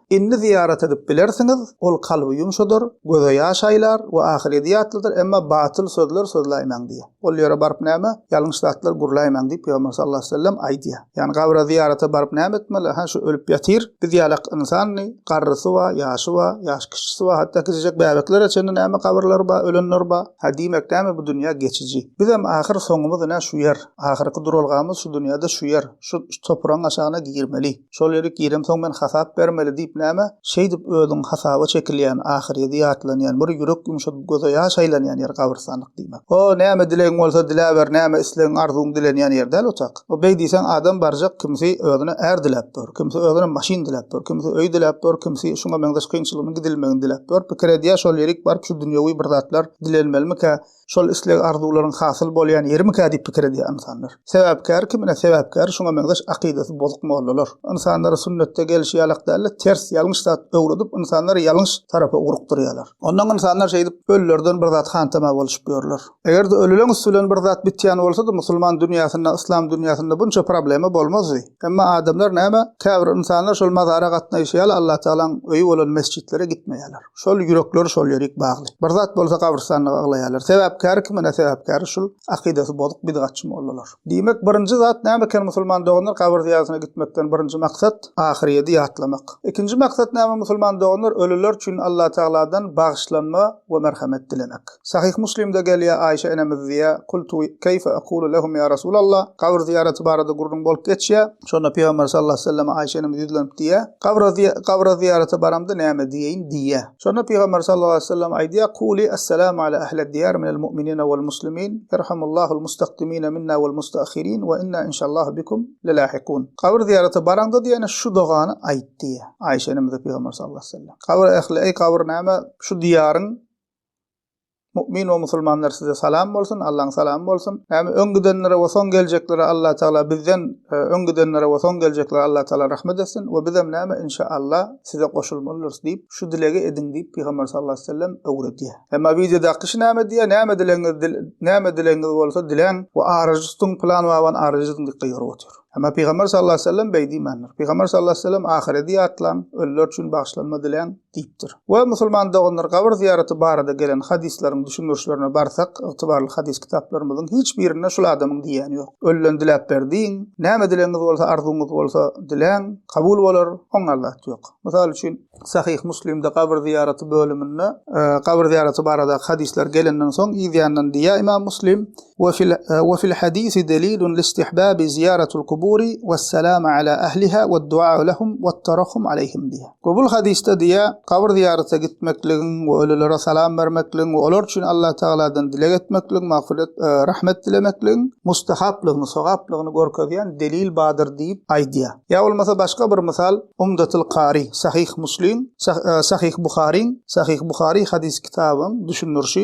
Indi zyýarat edip bilersiňiz, ol kalby ýumşadar, göze ýaş aýlar we ahyredy ýatladar, emma batyl sözler sözläýmäň diýýär. Ol ýere baryp näme, ýalňyş zatlar gürläýmäň diýip Pygamber sallallahu aleýhi we sellem aýdýar. Ýagny gabra zyýarata baryp näme etmeli, hä şu ölüp ýatyr, biz ýalak ynsandy, garrysy bar, ýaşy bar, ýaş kişisi bar, hatda kiçijek bäbeklere çenli näme gabyrlar bar, ölenler bar, hä diýmek näme bu dünýä geçiji. Bizem ahyr soňumyz ine şu ýer, ahyrky duralgamyz şu dünýäde şu ýer, şu topragyň aşagyna girmeli. Şol ýere giremsoň men hasap bermeli diýip näme? Şeýdip özüň hasaba çekilýän, ahyr ýedi ýatlanýan, bir ýürek ýumşadyp göze ýaş aýlanýan ýer gabrystanlyk diýmek. O, näme dilegiň bolsa diläber, näme islegiň, arzuwyň dilenýän ýer däl otag. O, beý diýseň adam barjak kimsi özüne är diläp bor, kimsi özüne maşyn diläp bor, kimsi öý diläp bor, kimsi şuňa meňzeş kynçylygynyň gidilmegini diläp bor, pikir edýär şol ýerik baryp şu dünýewi bir zatlar dilenmelimikä, şol isleg-arzuwlaryň hasyl bolýan ýerimikä diýip pikir edýär ynsanlar. Sebäpkär kimine sebäpkär şuňa meňzeş akydasy bozuk mollalar. Ynsanlara sünnetde gelşi ýalak däl-de, ters, ýalňyş zat öwredip, ynsanlary ýalňyş tarapa ugrukdyrýarlar. Ondan ynsanlar şeýdip, ölülerden bir zat hantama bolşup ýörler. Eger-de ölüleň üsti bilen bir zat bitýän bolsady, musulman dünýäsinde, yslam dünýäsinde bunça problema bolmazdy. Emma adamlar näme, käbir ynsanlar şol mazara gatnaýşy ýaly Allatagalaň öýi bolan mesjitlere gitmeýärler. Şol ýürekler şol ýerik bagly. Bir zat bolsa gabrystanlyk aglaýarlar. Sebäpkäri kim ene sebäpkäri şul akydasy bozuk bidgatçy mollalar. Diýmek birinji zat näme eken musulman doganlar gabyr zyýaratyna gitmekden birinji maksat ahyrýedi ýatlamak. Ikinji maksat näme musulman doganlar ölüler üçin Allah tagaladan bagyşlanma we merhemet dilemek. Sahyh muslimde gelýär Aýşe enemiz diýýär Kultu keýfe ekulu lehum ýa Resulallah gabyr zyýaraty barada gürrüň bolup geçýär. Şonda Pygamber sallallahu aleyhi ve sellem Aişe enemiz ýüzlenip diýýär, Gabra gabra zyýarata baramda näme diýeýin? diýýär. Şonda Pygamber sallallahu aleyhi ve sellem aýdýar, Kuli Assalamu ala ahled diyar minel mu'minina wal muslimin, yerhamullahul mustakdimina minna wal mustaakhirin we inna inşallahu bikum lelahikun. Gabr zyýarata baraňda diýene şu dogany aýt diýýär. Aişe enemize Pygamber sallallahu aleyhi ve sellem. Gabr ehli, eý gabr näme şu diýaryň Mu'min we musulmanlar size salam bolsun, Allaň salamy bolsun. Näme öň gidenlere we soň geljeklere Allah Taala bizden e, öň gidenlere we soň geljeklere Allah Taala rahmet etsin we bizem näme inşa Allah size goşulmalydyrys diýip, şu dilegi ediň diýip Pygamber sallallahu aleyhi ve sellem öwredýär. Emma wideodaky şu näme diýär? Näme dilegiňiz dil, näme dilegiňiz bolsa diläň we arajy tutuň plan waban arajy tutuň diýip gygyryp otyr. Emma Pygamber sallallahu aleyhi ve sellem beý diýmändir. Pygamber sallallahu aleyhi ve sellem ahiredi ýatlaň, ölüler üçin bagşlanma diläň. diýipdir. We musulman doganlar gabyr zyýaraty barada gelen hadyslaryň düşündirişlerine barsak, ygtybarly hadys kitaplarymyzyň hiç birinde şul adamyň diýýäni ýok. Ölüden diläp ber diýiň, näme dilegiňiz bolsa, arzuwyňyz bolsa diläň, kabul bolar, oňňan zat ýok. Mysal üçin, Sahyh Muslimde gabyr zyýaraty bölüminde gabyr zyýaraty barada hadyslar gelenden soň yzýandan diýýär Ymam Muslim, Ve fil ve fil hadisi delilun listihbabi ziyaratul kuburi ves selama ala ahliha ved duau lehum vet tarahhum aleyhim diýýär. Gobuly hadysda diýýär, Gabyr zyýarata gitmekligiň we ölülere salam bermekligiň we olar üçin Allah Tagaladan dileg etmekligiň, magfyrat, rahmet dilemekligiň, mustahaplygyny, sogaplygyny görkezýän delil bardyr diýip aýdýar. Ýa bolmasa başga bir mysal, Umdatul Kari, Sahyh Muslim, Sahyh Buharyň, Sahyh Buhary hadys kitabyň düşündirişi,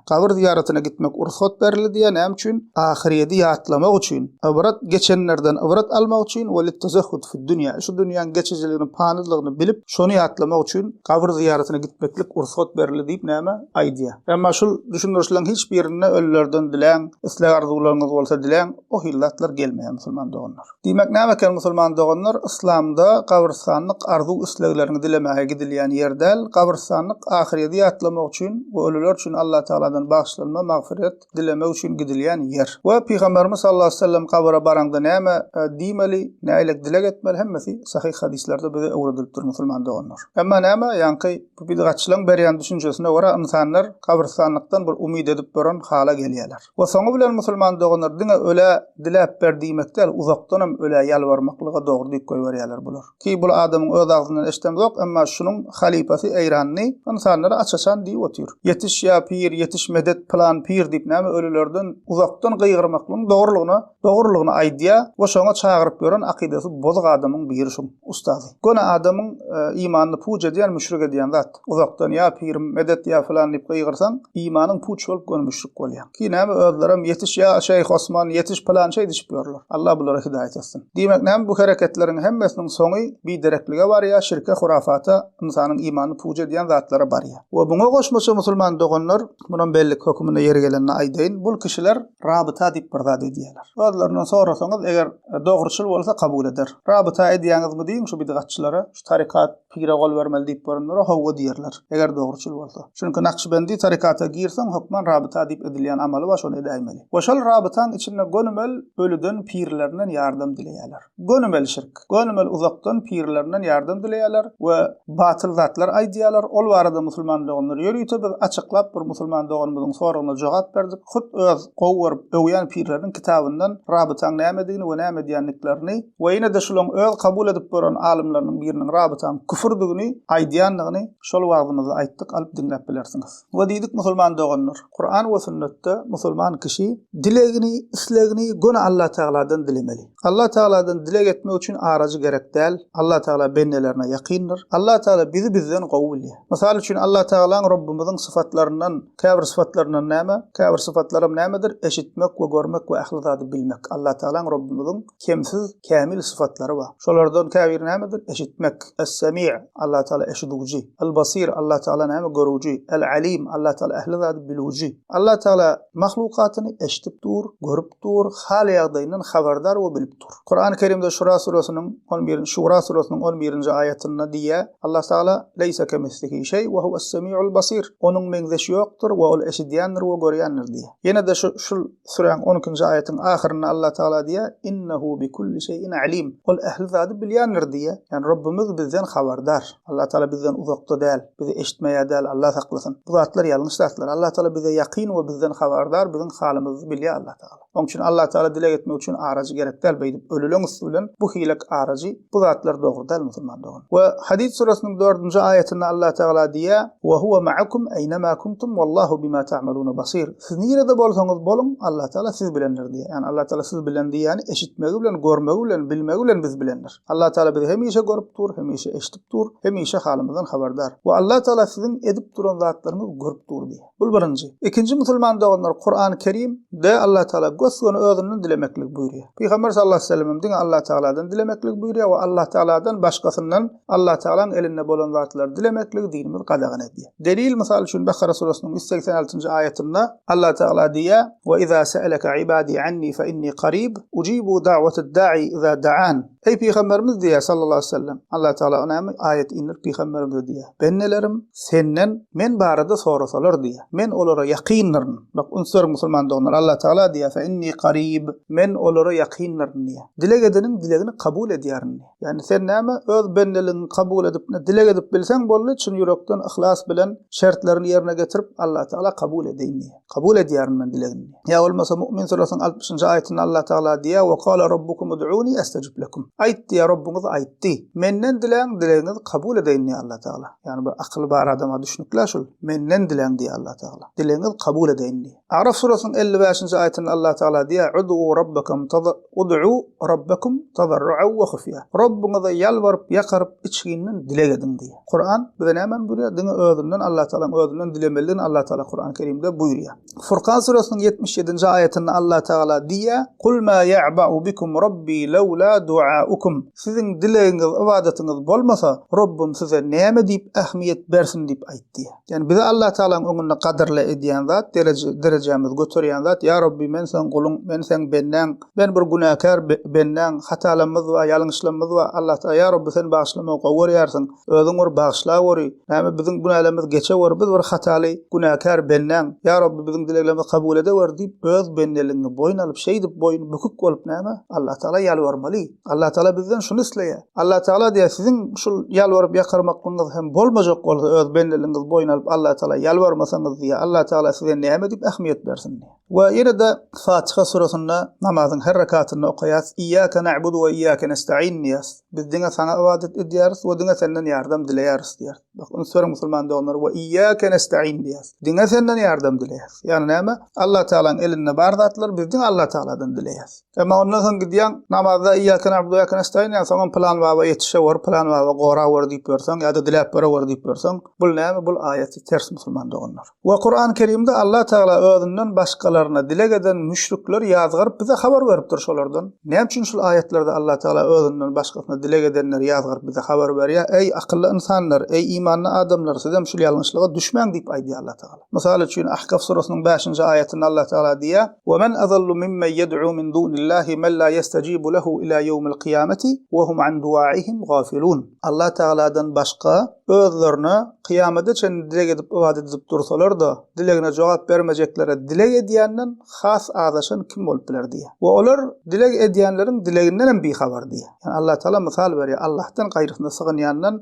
Gabyr zyýaratyna gitmek rugsat berildiýä näme üçin? Ahyrýedi ýatlamak üçin, ybrat, geçenlerden ybrat almak üçin, we littezehhud fiddünýä, şu dünýäň geçijiligini, panydylygyny bilip, şony ýatlamak üçin gabyr zyýaratyna gitmeklik rugsat berildi diýip näme? Aýdýa. Emma şul düşündirişleriň hiç birinde ölülerden diläň, isleg-arzuwlaryňyz bolsa diläň, o hili zatlar gelmeýä musulman doganlar. Diýmek näme eken musulman doganlar, yslamda gabrystanlyk arzuw-islegleriňi dilemäge gidilýän ýer däl, gabrystanlyk ahyrýeti ýatlamak üçin we ölüler üçin Allatagaladan bagyşlanma, magfyret, dilemek üçin gidilýän ýer. We Pygamberimiz sallallahu aleýhi we sellem gabra baraňda näme diýmeli, nähilek dileg etmeli hemmesi sahyh hadyslarda bize öwredilipdir musulman doganlar. Emma näme, ýaňky bu bidgatçylaň berýän düşünjesine görä ynsanlar gabrystanlykdan bir umyt edip duran hala gelýärler. We soňy bilen musulman doganlar diňe ölä diläp ber diýmek däl, uzakdanam ölä ýalbarmaklyga dogry diýip goýberýärler bular. Ki bul adamyň öz agzyndan eşdemzok, emma şunuň halypasy eýranly ynsanlara aç-açan diýip otyr. Ýetiş ýa pir, ýetiş medet pylan pir diýip näme ölülerden uzakdan gygyrymaklygyň dogrulygyna Dogrulygyny aýdýa we şoňa çagyryp ýören akydasy bozuk adamyň biri şum, ustazy. Göni adamyň imanyny puç edýän müşrik edýän zat. Uzakdan ýa pirim, medet ýa filan diýip gygyrsaň, imanyň puç bolup göni müşrik bolýaň. Ki näme özlerem ýetiş ýa şeýh Osman, ýetiş pylan şeý diçip ýörler. Allah bulara hidaýat etsin. Diýmek näme bu hereketleriň hemmesiniň soňy bidereklige barýa, şirke, hurafata, ynsanyň imanyny puç edýän zatlara barýa. We muňa goşmaça musulman doganlar, munam bellik höküminde ýeri gelende aýdaýyn, bul kişiler Rabyta diýip bir zat edýärler. Özlerinden sorasaňyz, eger e, dogruçyl bolsa kabul eder. Rabyta edýäňizmi diýiň şu bidgatçylara, şu tarikat pire gol bermeli diýip görenlere howwa diýerler, eger dogruçyl bolsa. Çünki Nakşibendi tarikata girseň, hökman rabyta diýip edilýän amaly bar, şony edäýmeli. We şol rabytaň içinde gönümel ölüden, pirlerinden ýardam dileýärler. Gönümel şirk. Gönümel uzakdan pirlerinden ýardam dileýärler we batyl zatlar aýdýarlar. Ol barada musulman doganlar ýörite biz açyklap bir musulman doganymyzyň soragyna jogap berdik. Hut öz gowy görüp, öwýän pirleriniň kitabyndan rabytaň nämedigini we näme edýändiklerini we ýene-de şulaň öz kabul edip gören alymlarynyň biriniň rabytaň küfürdigini aýdýandygyny şol wagzymyzda aýtdyk alyp diňläp bilersiňiz. We diýdik musulman doganlar, Kuran we sünnetde musulman kişi dilegini, islegini göni Allatagaladan dilemeli. Allah Tagaladan dileg etmek üçin arajy gerek däl. Allah Tagala bendelerine ýakyndyr. Allah Tagala bizi bizden gowy bilýär. Mysal üçin Allah Tagalaň Rabbymyzyň syfatlaryndan, käbir syfatlaryndan näme? Käbir syfatlaram nämedir? Eşitmek we görmek we ähli zady bilmek. Allah Tagalaň Rabbymyzyň kemsiz, kämil syfatlary bar. Şolardan käbiri nämedir? Eşitmek. Es-Semi', Allah Tagala eşidiwji. El-Basir, Allah Tagala näme? Görüwji. El-Alim, Allah Tagala ähli zady bilüwji. Allah Tagala mahlukatyny eşidip dur, görüp Dur, hal-ýagdaýyndan habardar we bilip dur. Kurany Kerimde Şura süresiniň on birinji Şura süresiniň on birinji aýatynda diýýär, Allah Tagala, Leýse kemislihi şeý we huwes-semiul basir, Onuň meňzeşi ýokdur we Ol eşidýändir we görýändir diýýär. Ýene-de şu şul süräň on ikinji aýatyň ahyrynda Allah Tagala diýýär, Innehu bi kulli şeýin alim, Ol ähli zady bilýändir diýýär. Ýagny Rabbimiz bizden habardar. Allah Tagala bizden uzakda däl. Bizi eşitmeýär däl, Allah saklasyn. Bu zatlar ýalňyş zatlar. Allah Taala bize ýakyn we bizden habardar, biziň halymyzy bilýär Allah Taala. Oň üçin Allah Taala dileg etmek üçin arajy gerek däl, beýdip ölüleň üsti bilen bu hilek arajy, bu zatlar dogry däl musulman dogan. We Hadid surasynyň dördünji aýatynda Allah Taala diýýär, Wa huwa ma'akum eýnema kuntum wallahu bima ta'maluna basir. Siz nirede bolsaňyz boluň, Allah Taala siz bilendir diýýär. Ýagny Allah Taala siz bilen diýýäni eşitmegi bilen, görmegi bilen, bilmegi bilen biz bilendir. Allah Taala bizi hemişe görüp dur, hemişe eşidip dur, hemişe halymyzdan habardar. We Allah Taala siziň edip duran zatlaryňyzy görüp dur diýýär. Bul birinji. Ikinji musulman doganlar Kurany Kerim de Allah Taala gös-göni özünden dilemekligi buýurýar. Pygamber sallallahu aleyhi ve sellemem diňe Allah Taaladan dilemekligi buýurýar we Allah Taaladan başgasyndan Allah Taalaň elinde bolan zatlary dilemekligi dinimiz gadagan edýär. Delil, mysal üçin, Bakara surasynyň ýüz segsen altynjy aýatynda Allah Tagala diýýär, Ve iza se'eleke ibadi anni fe inni karib, ucibu da'watad da'i iza da'an. Eý pygamberimiz diýýär sallallahu aleýhi we sellem, Allah Tagala näme aýat indirip pygamberimize diýýär, Bendelerim senden men barada sorasalar diýýär, men olara ýakyndyryn. Bak, üns beriň musulman doganlar, Allah Tagala diýýär, Fe inni karib, men olara ýakyndyryn diýýär. Dileg edeniň dilegini kabul edýärin diýýär. Ýani sen näme öz bendeligiňi kabul edip ne dileg edip bilseň boldy çyn ýürekden yhlas bilen şertlerini ýerine getirip Allah Tagala kabul edeýin diýe. Kabul edýärin men dilegiňi. Ýa bolmasa Mu'min surasynyň altmyşynjy aýatynda Allah Tagala diýýär we kâle Rabbukum ud'ûni estejib lekum. Aýt diýýär Rabbyňyz aýtdy. Menden diläň dilegiňizi kabul edeýin diýýär Allah Tagala. Ýani bir akyly bar adama düşnükle şul. Menden diläň diýýär Allah Tagala. Dilegiňiz kabul edeýin diýýär. Araf surasynyň elli bäşinji aýatynda Allah Tagala diýýär, Ud'u Rabbakum taza, Ud'u Rabbakum tazarru'an we hufýa. Rabbyňyza ýalbaryp, ýakaryp, içginden dileg ediň diýýär. Kuran bize nämäni buýurýar? Diňe özünden, Allah Tagalaň özünden dilemelidigini Allah Tagala Kurany Kerimde buýurýar. Furkan surasynyň ýetmiş ýedinji aýatynda Allah Tagala diýýär, Kul ma ýa'ba'u bikum Rabbi lawla du'a'ukum. Siziň dilegiňiz, ybadatyňyz bolmasa, Rabbym size näme diýip ähmiýet bersin diýip aýt diýýär. Ýani bizi Allah Tagalaň öňünde gadyrly edýän zat, derejämizi göterýän zat, ýa Rabbi men seň guluň, men seň bendäň, men bir günäkär bendäň, hatalarymyz bar, ýalňyşlarymyz bar, Allah Tagala ýa Rabbi sen bagyşlamagy gowy görýärsiň, özüň bir bagyşla göri, näme biziň günälerimiz geçe göri, biz bir hataly, günäkär bendäň, ýa Rabbi biziň dileglerimizi kabul edeweri diýip öz bendeligiňi boýun alyp şeýdip boýun bükük bolup näme Allah Tagala ýalbarmaly. Allah Taala bizden şuny isleýär. Allah Taala diýýär, siziň şul ýalbaryp ýakarmaklygyňyz hem bolmajak bolsa, öz bendeligiňizi boýun alyp Allah Taala ýalbarmasaňyz diýýär, Allah Taala size näme diýip ähmiýet bersin diýýär. We ýene de Fatiha surasynda namazyň her rekatynda okaýas, Iyyake na'budu we iyyake nesta'in diýýäs. Biz diňe saňa ybadat edýäris we diňe senden ýardam dileýäris diýýär. Bak, üns beriň musulman doganlar, we iyyake nesta'in diýýäs. Diňe senden ýardam dileýäs. Ýagny näme? Allah Taalanyň elinde bar zatlar, biz diňe Allah Taaladan dileýäs. Emma ondan soň gidýäň, namazda Iyake na'budu ve iyake nestaîn diýýäň, soňam pylan baba ýetişewor, pylan baba gorawor diýip ýörseň ýa-da diläp berewor diýip ýörseň, bul näme? Bul aýaty ters musulman doganlar. We Kur'an Kerimde Allah Tagala özünden başgalaryna dileg eden müşrikler ýazgaryp bize habar beripdir şolardan. Näme üçin şul aýatlarda Allah Tagala özünden başgasyna dileg edenleri ýazgaryp bize habar berýär, Eý akylly ynsanlar, eý imanly adamlar, sizem şul ýalňyşlyga düşmäň diýip aýdýar Allah Tagala. Mysal üçin, Ahkaf surasynyň bäşinji aýatynda Allah Tagala diýýär, Ve men adallu mimmen yed'u min dunillahi men la yestajibu lehu ila yewmil kyýameti ve hum an duaihim gafilun. Allah Tagaladan başga özlerine kyýamada çenli dileg edip ybadat edip dursalar-da, dilegine jogap bermejeklere dileg edýänden has azaşan kim bolup biler diýýär. We olar dileg edýänleriň dilegindenem bihabar diýýär. Ýagny Allah Tagala mysal berýär, Allahdan gaýrysyna sygynýandan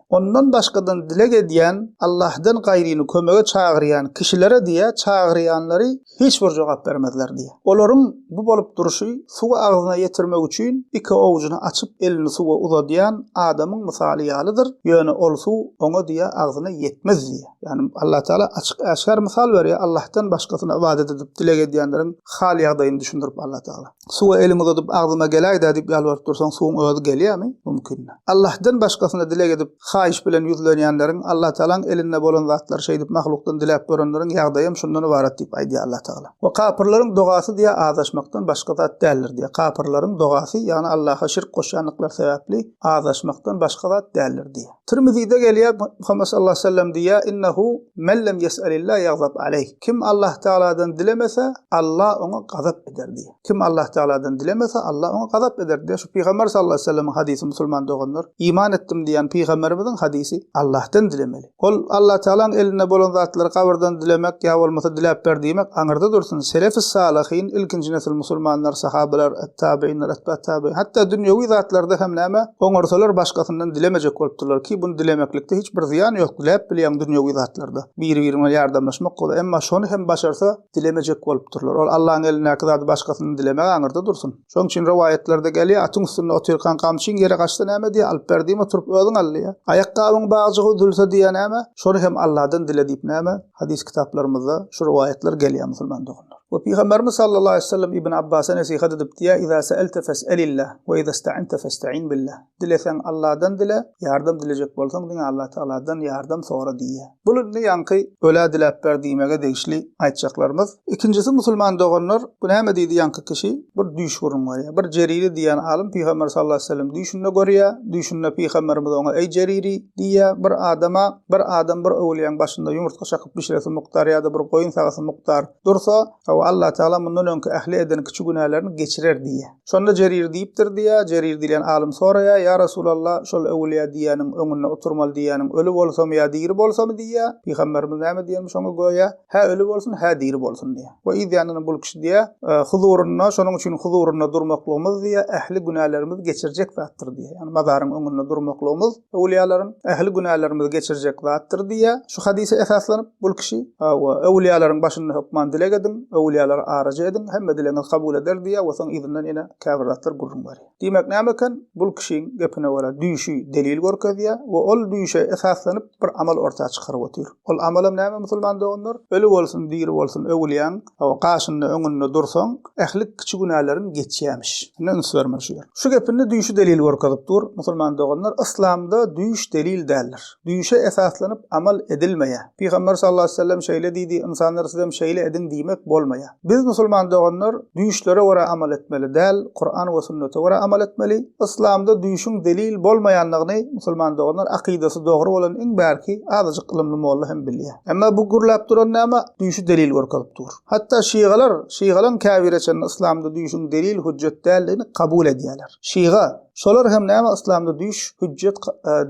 Ondan başgadan dileg edýän, Allahdan gaýryny kömege çagyrýan kişilere diýýär, çagyrýanlary hiç bir jogap bermezler diýýär. Olaryň bu bolup durşy suwy agzyna ýetirmek üçin iki owjuny açyp elini suwa uzadýan adamyň mysaly ýalydyr, ýöne ol suw oňa diýýär agzyna ýetmez diýýär. Ýagny Allah Tagala açyk-äşgär mysal berýär, Allahdan başgasyna ybadat edip dileg edýänleriň hal-ýagdaýyny düşündirip Allah Tagala. Suwa elimi uzadyp agzyma geläýdä diýip ýalbaryp dursaň suwuň özi gelýärmi? Mümkindä. Allahdan başgasyna dileg edip haýyş bilen ýüzlenýänleriň Allatagalaň elinde bolan zatlary şeýdip mahlukdan diläp görenleriň ýagdaýam şundan ybarat diýip aýdýar Allatagala. We kapyrlaryň dogasy diýýär azaşmakdan başga zat däldir diýýär. Kapyrlaryň dogasy ýagny Allaha şirk goşýandyklary sebäpli azaşmakdan başga zat däldir diýýär. Tirmizide gelýär, Muhammet sallallahu aleyhi ve sellem diýýär, Innehu men lem yes'alillah yagzab aleyh. Kim Allah Tagaladan dilemese, Allah oňa gazap eder diýýär. Kim Allah Tagaladan dilemese, Allah oňa gazap eder diýýär. Şu Pygamber sallallahu aleyhi ve sellemiň hadysy musulman doganlar. Iman etdim diýýän Pygamberimiziň hadysy Allahdan dilemeli. Ol Allah Tagalaň elinde bolan zatlary gabyrdan dilemek ýa bolmasa diläp ber diýmek aňyrda dursun. Selef-i salyhin, ilkinji nesil musulmanlar, sahabeler, Tabeýinler, Atbat tabeýin. Hatda dünýewi zatlarda hem näme, oňarsalar başgasyndan dilemejek bolupdyrlar ki, buny dilemeklikde hiç bir zyýan ýok, diläp bilýäň dünýewi zatlarda. Biri-biri bilen ýardamlaşmak bolýar. Emma şony hem başarsa, dilemejek bolupdyrlar. Ol Allaň elindäki zady başgasyndan dilemek aňyrda dursun. Şoň üçin rowaýatlarda gelýär, atyň üstünde otyrkaň gamçyň ýere gaçsa näme diýýär, alyp ber diýme, turup özüň al diýýär. Aýakgabyň bagjygy üzülse diýýär näme, şony hem Alladan dile diýip näme, hadys kitaplarymyzda şu rowaýatlar gelýär musulman doganlar. We Pygamberimiz sallallahu aleýhi we sellem Ibn Abbasa nesihat edip diýýär, Iza se'elte fes'elillah, we iza sta'ente festa'in billah. Dileseň Allahdan dile, ýardam dilejek bolsaň diňe Allah Tagaladan ýardam sora diýýär. Bul indi ýaňky ölä diläp ber diýmege degişli aýtjaklarymyz. Ikinjisi musulman doganlar, bu näme diýdi ýaňky kişi, bir düýş gurun görýär. Bir Jeriri diýýän alym Pygamber sallallahu aleýhi we sellem düýşünde görýär. Düýşünde Pygamberimiz oňa eý Jeriri diýýär, bir adama Bir adam bir öwlüýäň başynda ýumurtga çakyp bişiresi mukdar ýa-da bir goýun sagasy mukdar dursa, hawa, Allatagala mundan öňki ähli eden kiçi günälerini geçirer diýýär. Şonda Jerir diýipdir diýýär, Jerir diýlen alym soraýar, Ýa Resulalla, şol öwlüýä diýýäniň öňünde oturmaly diýýäniň öli bolsamy ýa diri bolsamy diýýär. Pygamberimiz näme diýenmiş oňa göýä, Hä öli bolsun, hä diri bolsun diýýär. We yzýanyndan bul kişi diýýär, Huzurynda, şonuň üçin huzurynda durmaklygymyz diýýär, ähli günälerimizi geçirjek zatdyr diýýär. Ýagny mazaryň öňünde durmaklygymyz. Öwlüýalaryň ähli günälerimizi geçirjek zatdyr diýýär. Şu hadysa esaslanyp, bul kişi, Hawa, öwlüýalaryň başynda hökman dileg ediň, öwlüýalara araja ediň, hemme dilegiňizi kabul eder diýýär we soň yzyndan ýene käbir zatlar gürrüň berýär. Diýmek näme eken? Bul kişiň gepine görä, düýşi delil görkezýär we ol düýşe esaslanyp, bir amal orta çykaryp otyr. Ol amalam näme musulman doganlar? Öli bolsun, diri bolsun öwlüýäň, Hawa, gaşynda, öňünde dursaň, ähli kiçi günäleriň geçýämiş. Indi üns berme şu ýere. Şu gepinde düýşi delil görkezip dur, musulman doganlar, yslamda düýş delil däldir. Düýşe esaslanyp amal edilmeýär. Pygamber sallallahu aleyhi ve sellem şeýle diýdi, ynsanlar sizem şeýle ediň diýmek bolmaýar. Biz musulman doganlar düýşlere görä amal etmeli däl, Kuran we sünnete görä amal etmeli. Yslamda düýşüň delil bolmaýandygyny musulman doganlar akydasy dogry bolan iň bärki azajyk ylymly molla hem bilýär. Emma bu gürläp duran näme? Düýşi delil görkezip dur. Hatda şygalar, şygalaň käbiri çenli yslamda düýşüň delil, hüjjet däldigini kabul edýärler. Şyga, şolar hem näme yslamda düýş hüjjet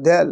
däl,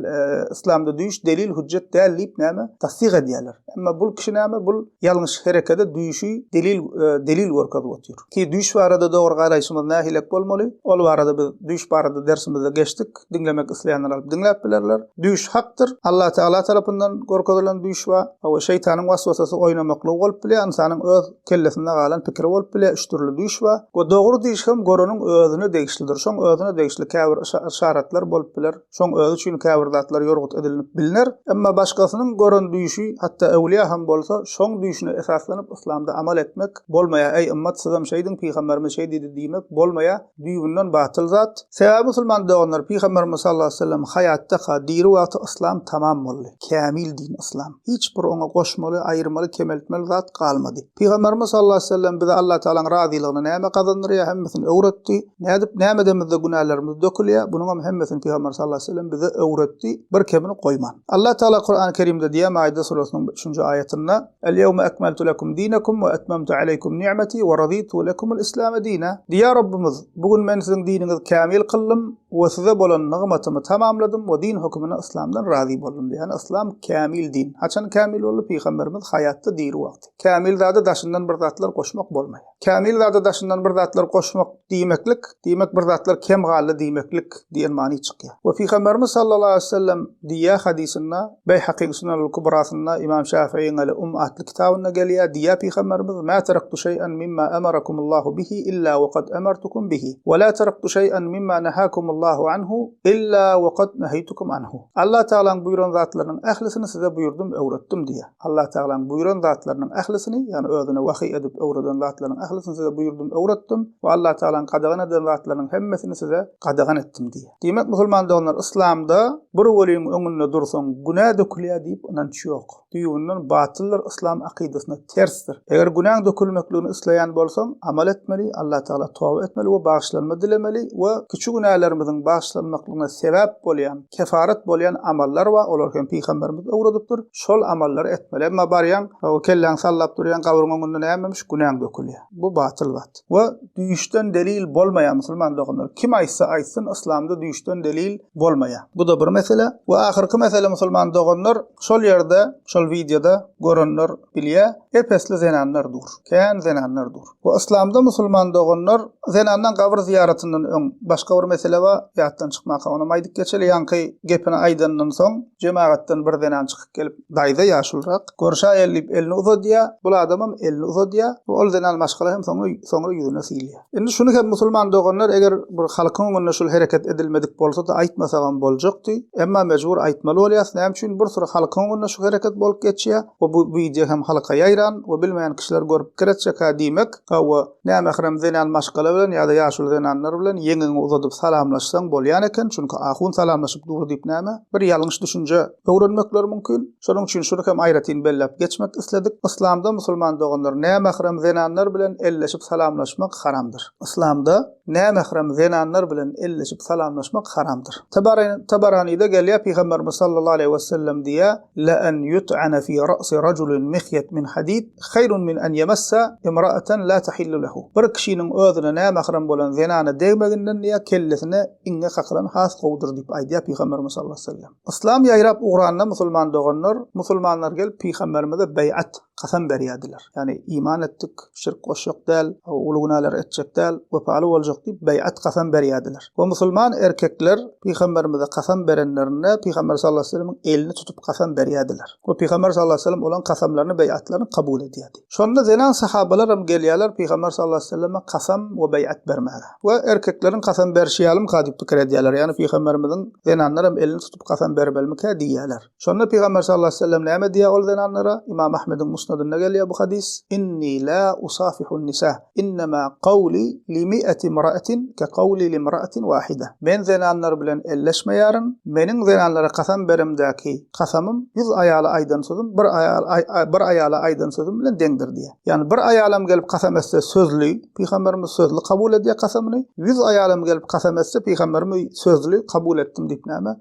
yslamda düýş delil, hüjjet däl diýip näme? Tassyk edýärler. Emma bul kişi näme? Bul ýalňyş herekede düýşi delil, delil görkezip otyr. Ki düýş barada dogry garaýşymyz nähilek bolmaly? Ol barada biz düýş barada dersimizde geçdik. Diňlemek isleýänler alyp diňläp bilerler. Düýş hakdyr. Alla Tagala tarapyndan görkezilen düýş bar. Hawa, şeýtanyň waswasasy oýnamaklygy bolup bilýär, ynsanyň öz kellesinde galan pikiri bolup bilýär. Üç dürli düýş bar. We dogry düýş hem göreniň özüne degişlidir. Şoň özüne degişli käbir yşaratlar bolup biler. Şoň özi üçin käbir zatlar ýorgut edilnip bilner, emma başgasynyň gören düýşi, hatda äwliýa hem bolsa, şoň düýşüne esaslanyp yslamda amal etmek bolmaýar, äý ymmat sizem şeýdiň pygamberimiz şeý diýdi diýmek bolmaýar, düýbünden batyl zat. Sebäbi musulman doganlar pygamberimiz sallallahu aleýhi wesellem haýatdaka, diri wagty yslam tamam boldy, kämil din yslam, hiç bir oňa goşmaly, aýyrmaly, kemeltmeli zat galmady. Pygamberimiz sallallahu aleyhi ve sellem bize Allah Teala'nyň razylygyny näme gazandyrýar hemmesini öwretdi. Nädip näme edemizde günälerimiz dökülýär, bunuňam hemmesini Pygamberimiz sallallahu aleyhi ve sellem bize öwretdi, bir kemini goýman. Allah Teala Kur'an-y Kerimde diýýär Maide suresynyň üçünji aýatynda, El-yewme ekmeltu lekum dinekum we etmemtu aleykum ni'meti we raditu lekumul islame dine. Diýýär Rabbimiz, bu gün men siziň diniňizi kämil kyldym, We size bolan nygmatymy tamamladym we din hökümine yslamdan razy boldum diýýär. Ýagny yslam kämil din. Haçan kämil boldy? Pygamberimiz haýatda diri wagty. Kämil zada daşyndan bir zatlar goşmak bolmaýar. Kämil zada daşyndan bir zatlar goşmak diýmeklik, diýmek bir zatlar kem galdy diýmeklik diýen many çykýar. We pygamberimiz sallallahu aleýhi wesellem diýýär hadysynda, Beýhakyň Sunanul-Kubrasynda Ymam Şäfiiň Al Umm atly kitabynda gelýär, diýýär Pygamberimiz, Mä teraktu şeý'an mimma amarakumullahu bihi illa we kad amartukum bihi, we la teraktu şeý'an mimma nahakumullahu anhu illa we kad neheytukum anhu. Allah Tagalaň buýran zatlarynyň ählisini size buýurdym, öwretdim diýýär. Allah Tagalaň buýran zatlarynyň ählisini, ýagny Özüne wahyý edip öwreden zatlarynyň ählisini size buýurdym, öwretdim, we Allah Tagalaň gadagan eden zatlarynyň hemmesini size gadagan etdim diýýär. Diýmek, musulman doganlar, yslamda bir weliň öňünde dursaň, günä dökülýär diýip ynanç ýok. Düýbünden batyldyr, yslam akydasyna tersdir. Eger günäň dökülmekligini isleýän bolsaň, amal etmeli, Allatagala toba etmeli we bagyşlanma dilemeli we kiçi günälerimiziň bagyşlanmaklygyna sebäp bolýan, kefaret bolýan amallar bar, olary hem pygamberimiz öwredipdir, şol amallary etmeli. Emma barýaň, o kelläňi sallap durýaň, gabryň öňünde nämemiş, günäň dökülýär. Bu batyl wat. We düýşden delil bolmaýar musulman doganlar. Kim aýtsa aýtsyn yslamda düýşden delil bolmaýar. Bu da bir mesele. We ahyrky mesele musulman doganlar, şol ýerde, şol wideoda görenler bilýär, ep-esli zenanlar dur. Kän zenanlar dur. We yslamda musulman doganlar zenandan gabyr zyýaratyndan öň başga bir mesele bar, ýatdan çykmaka onam aýdyp geçeli, ýaňky gepini aýdandan soň jemagatdan bir zenan çykyp gelip, Daýza ýaşulrak, Görüşäýeli diýip elini uzadýar. Bul adamam elini uzadýar we ol zenan maşgala hem soňra soňra ýüzüne syýylýar. Indi şuny hem musulman doganlar eger bir halkyň öňünde şul hereket edilmedik bolsady aýtmasagam boljakdy. Emma mejbur aýtmaly bolýas. Näme üçin bir süri halkyň öňünde şu hereket bolup geçýär we bu wideo hem halka ýaýran we bilmeýän kişiler görüp pikir etjekka diýmek we Nämähram zenan maşgala bilen ýa-da ýaşuly zenanlar bilen ýeňiňi uzadyp salamlaşsaň bolýan eken, çünki ahun salamlaşyp dur diýip näme, bir ýalňyş düşünje öwrenmekleri mümkin. Şonuň üçin şuny hem aýratyn belläp geçmek isledik. Yslamda musulman doganlar nämähram zenanlar bilen elleşip salamlaşmak haramdyr. Yslamda nämähram zenanlar bilen elleşip salamlaşmak haramdyr. Tabaranyda gelýär, Pygamberimiz sallallahu aleýhi wesellem diýýär, Leen ýut'ane fi ra'si rajulin mihyet min hadid, Haýrun min an ýemessa imraatan la tahillu lehu. Bir kişiniň özüne nämährem bolan zenana degmeginden diýýär, kellesine iňňek hakylan has gowudyr diýip aýdýar Pygamberimiz sallallahu aleýhi we sellem. Yslam ýaýrap ugranda musulman doganlar, musulmanlar gelip Pygamberimize beýat, kasam berýärdiler. Ýagny iman etdik, şirk goşjak däl, uly günälary etjek däl, wepaly boljak diýip beýat, kasam berýärdiler. We musulman erkekler Pygamberimize kasam berenlerinde Pygamber sallallahu aleyhi ve sellem'in elini tutup kasam berýärdiler. We Pygamber sallallahu aleyhi ve sellem olaryň kasamlaryny, beýatlaryny kabul edýärdi. Şonda zenan sahabalar hem gelýärler Pygamber sallallahu aleyhi ve selleme kasam we beýat bermäge. We erkekleriň kasam berşi ýalymyka diýip pikir edýärler. Ýagny Pygamberimiziň zenanlar hem elini tutup kasam bermelimikä diýýärler. Şonda Pygamber sallallahu aleýhi we sellem näme diýýär ol zenanlara? Ymam Ahmediň Musnadynda gelýär bu hadys, Inni la usafihun nisa, innema gawli li mi'ati imra'atin ke gawli li imra'atin wahida. Men zenanlar bilen elleşmeýärin, meniň zenanlara kasam berimdäki kasamym ýüz aýala aýdan sözüm bir aýala bir aýala aýdan sözüm bilen deňdir diýýär. Ýagny bir aýalam gelip kasam etse sözli, Pygamberimiz sözli kabul edýär kasamyny, ýüz aýalam gelip kasam etse Pygamberimiz sözli kabul etdim diýip näme?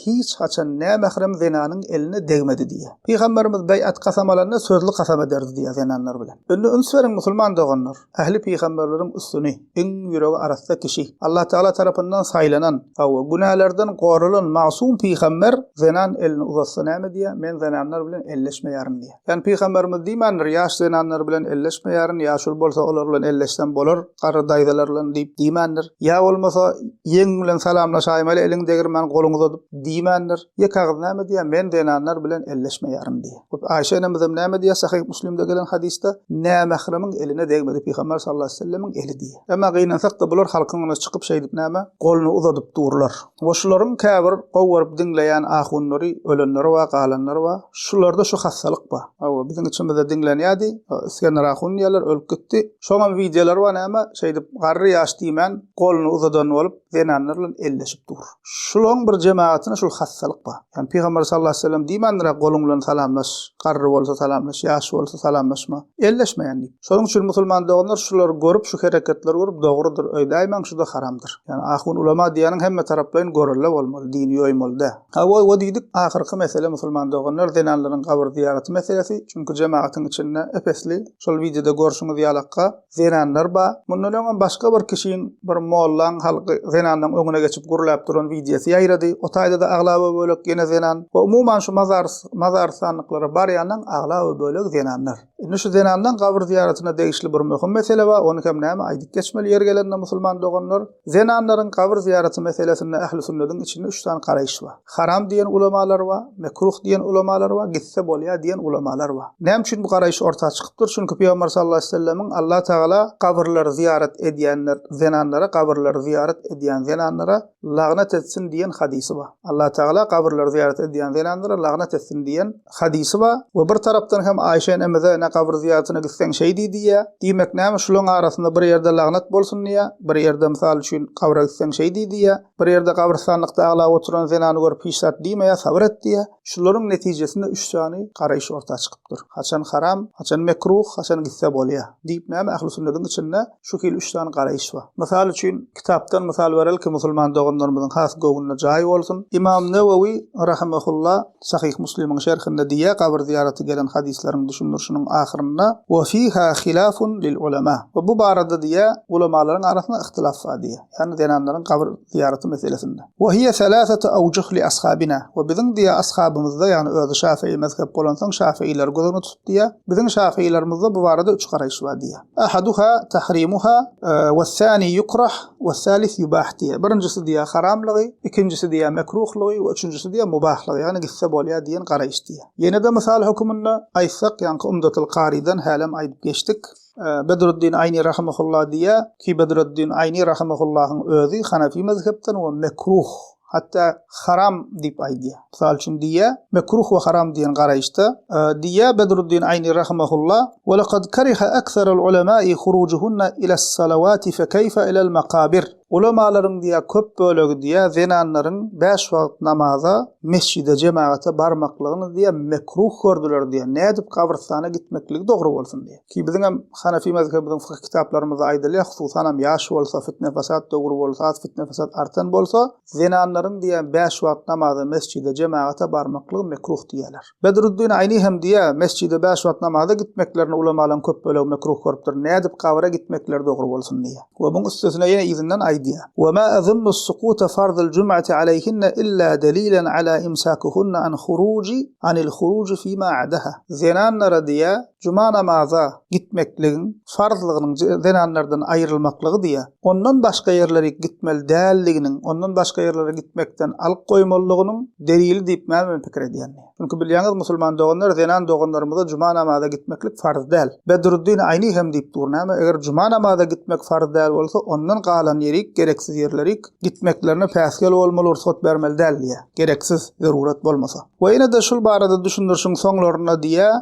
hiç haçan nämährem zenanyň eline degmedi diýýär. Pygamberimiz beýat kasam alanda sözli kasam ederdi diýýär zenanlar bilen. Indi üns beriň musulman doganlar, ähli pygamberleriň üstüni, iň ýüregi arassa kişi, Allah Tagala tarapyndan saýlanan, hawa, günälerden goralan magsuum pygamber zenan elini uzatsa näme diýýär, men zenanlar bilen elleşmeýärin diýýär. Ýagny pygamberimiz diýmändir, ýaş zenanlar bilen elleşmeýärin, ýaşuly bolsa olar bilen elleşsem bolar, garry daýzalar bilen diýip diýmändir. Ýa bolmasa, ýeňiň bilen salamlaşaýmaly, eliňi degirmän, goluňy uzadyp diýmändir. Ýeke agyz näme diýýär, Men zenanlar bilen elleşmeýärin diýýär. We Aýşe enemizem näme diýýär, Sahyh Müslimde gelen hadysda, Nämähremiň eline degmedi pygamber sallallahu aleyhi we sellemiň eli diýýär. Emma gynansak-da bular halkyň öňüne çykyp şeýdip näme, goluny uzadyp durlar. Goşularyň käbir gowy görüp diňleýän ahunlary ölenleri bar galanlary bar şularda şu hassalyk bar hawa biziň içimizde diňlenýädi isgender ahun diýýärler ölüp gitdi şoňam wideolary bar näme şeýdip garry ýaş diýmän goluny uzadan bolup zenanlar bilen elleşip dur şulaň bir jemagatyna şul hassalyk bar ýani pygamber sallallahu aleyhi ve sellem diýmändiräk goluň bilen salamlaş garry bolsa salamlaş ýaş bolsa salamlaşma Elleşmeýän diýip. Şonuň üçin musulman doganlar şulary görüp, şu hereketleri görüp dogrudyr öýdäýmäň şuda haramdyr. Ýani ahun ulama diýýäniň hemme taraplaýyn gorelle bolmaly, dini ýoýmaly dä. Ha goý o diýdik ahyrky mesele musulman doganlar zenanlaryň gabyr zyýaraty meselesi, çünki jemagatyň içinde ep-esli şol wideoda görşüňiz ýalakka zenanlar bar. Mundan öňem başga bir kişiň bir mollaň halky zenanlaň öňüne geçip gürläp duran wideosy ýaýrady. O taýda-da aglaba bölek ýene zenan. We umuman şu mazar mazar sanlyklara barýanlaň aglaby bölegi zenanlar. Indi şu zenanlaň gabyr zyýaratyna degişli bir möhüm mesele bar, ony hem näme aýdyp geçmeli ýeri gelende musulman doganlar, zenanlaryň gabyr zyýaraty meselesinde ähli sünnediň içinde üç sany garaýyş bar. Haram diýen ulamalar bar, mekruh diýen ulamalar bar, gitse bolýar diýen ulamalar bar. Näme üçin bu garaýyş orta çykypdyr? Çünki Pygamber sallallahu aleýhi wesellemiň Alla tagala gabyrlary zyýarat edýänler zenanlara gabyrlary zyýarat edýän zenanlara lagnet etsin diýen hadysy bar. Allatagala gabyrlary zyýarat edýän zenanlara lagnet etsin diýen hadysy bar we bir tarapdan hem Aýşe enemize ne gabyr zyýaratyna gitseň şeýdi diýýär. Diýmek näme şulaň arasynda bir ýerde lagnet bolsun diýýär, bir ýerde mysal üçin gabra gitseň şeýdi diýýär, bir ýerde gabrystanlykda aglap oturan zenany görüp hiç zat diýmeýär, sabyr et diýýär. Şularyň netijesinde üç sany garaýyş orta çykypdyr. Haçan haram, haçan mekruh, haçan gitse bolýar diýip näme ähli sünnetiň içinde şu hili üç sany garaýyş bar. Mysal üçin, kitapdan mysal berelki, musulman doganlarymyzyň has göwnüne jaý bolsun, Ymam Newewi rahymehullah Sahyh Muslimiň şerhinde diýýär, Gabyr zyýaraty gelen hadyslaryň düşündirişiniň ahyrynda, Wa fiha hilafun lil ulema. We bu barada diýýär, Ulamalaryň arasynda yhtylaf bar diýýär. Ýagny zenanlaryň gabyr zyýaraty meselesinde. Wa hiye selasatu awjuh li ashabina. We biziň diýýär ashabymyzda, ýagny özi şafii mezhep bolansoň şafiileri göz öňüne tutup diýýär, biziň şafiilermizde bu barada üç garaýyş bar diýýär. Ahaduha tahrimuha we sani yukrah we salis yubah diýýär. Birinjisi diýýär haramlygy, ikinjisi diýýär mekruhlygy we üçünjisi diýýär mubahlygy, ýagny gitse bolýar diýen garaýyş diýýär. Ýene-de mysal höküminde aýtsak, ýaňky Umdatul Karydan hälem aýdyp geçdik. Bedruddin Aýni rahymahullah diýýär ki, Bedruddin Aýni rahymahullah-yň özi hanafi mezhepden we mekruh, Hatda haram diýip aýdýar. Mysal üçin diýýär, Mekruh we haram diýen garaýyşda, diýýär Bedruddin Aýni rahymahullah, Welekad kariha ekserul ulemai hurujuhunna iles-salawati fekeýfe ilel-makabir. Ulemalaryň diýýär köp bölegi diýýär zenanlaryň bäş wagt namaza, mesjide, jemagata barmaklygyny diýýär mekruh gördüler diýýär, nädip gabrystana gitmekligi dogry bolsun diýýär. Ki biziň hem Hanefi mezhebimiziň fykyh kitaplarymyzda aýdylýar, hususan hem ýaş bolsa, fitne-fesat döwri bolsa, az fitne-fesat artan bolsa, zenanlaryň diýýär, bäş wagt namaza mesjide, jemagata barmaklygy mekruh diýýärler. Bedruddin Aýni hem diýýär, mesjide bäş wagt namaza gitmeklerini ulamalaryň köp bölegi mekruh görüpdir, nädip gabyra gitmekleri dogry bolsun diýýär. We muň üstesine ýene yzyndan aýdýar, Ve ma azunnu s-sukuta farzal jum'ati aleyhinne illa delilen ala imsakuhunna an huruji anil huruji fima adaha. Zenanlara diýýär, Juma namaza gitmekligiň farzlygynyň zenanlardan aýrylmaklygy diýýär. Ondan başga ýerlere gitmeli däldiginiň, ondan başga ýerlere gitmekden alyk goýmalydygynyň delili diýip men men pikir edýän diýýär. Çünki bilýäňiz musulman doganlar zenan doganlarymyza juma namaza gitmeklik farz däl. Bedruddin Aýni hem diýip dur näme eger juma namaza gitmek farz däl bolsa ondan galan ýerik gereksiz ýerlerik gitmeklerine päsgel bolmaly rugsat bermeli däl diýýär. Gereksiz, zerurat bolmasa. We ýene-de şul barada düşündirişiň soňlarynda diýýär,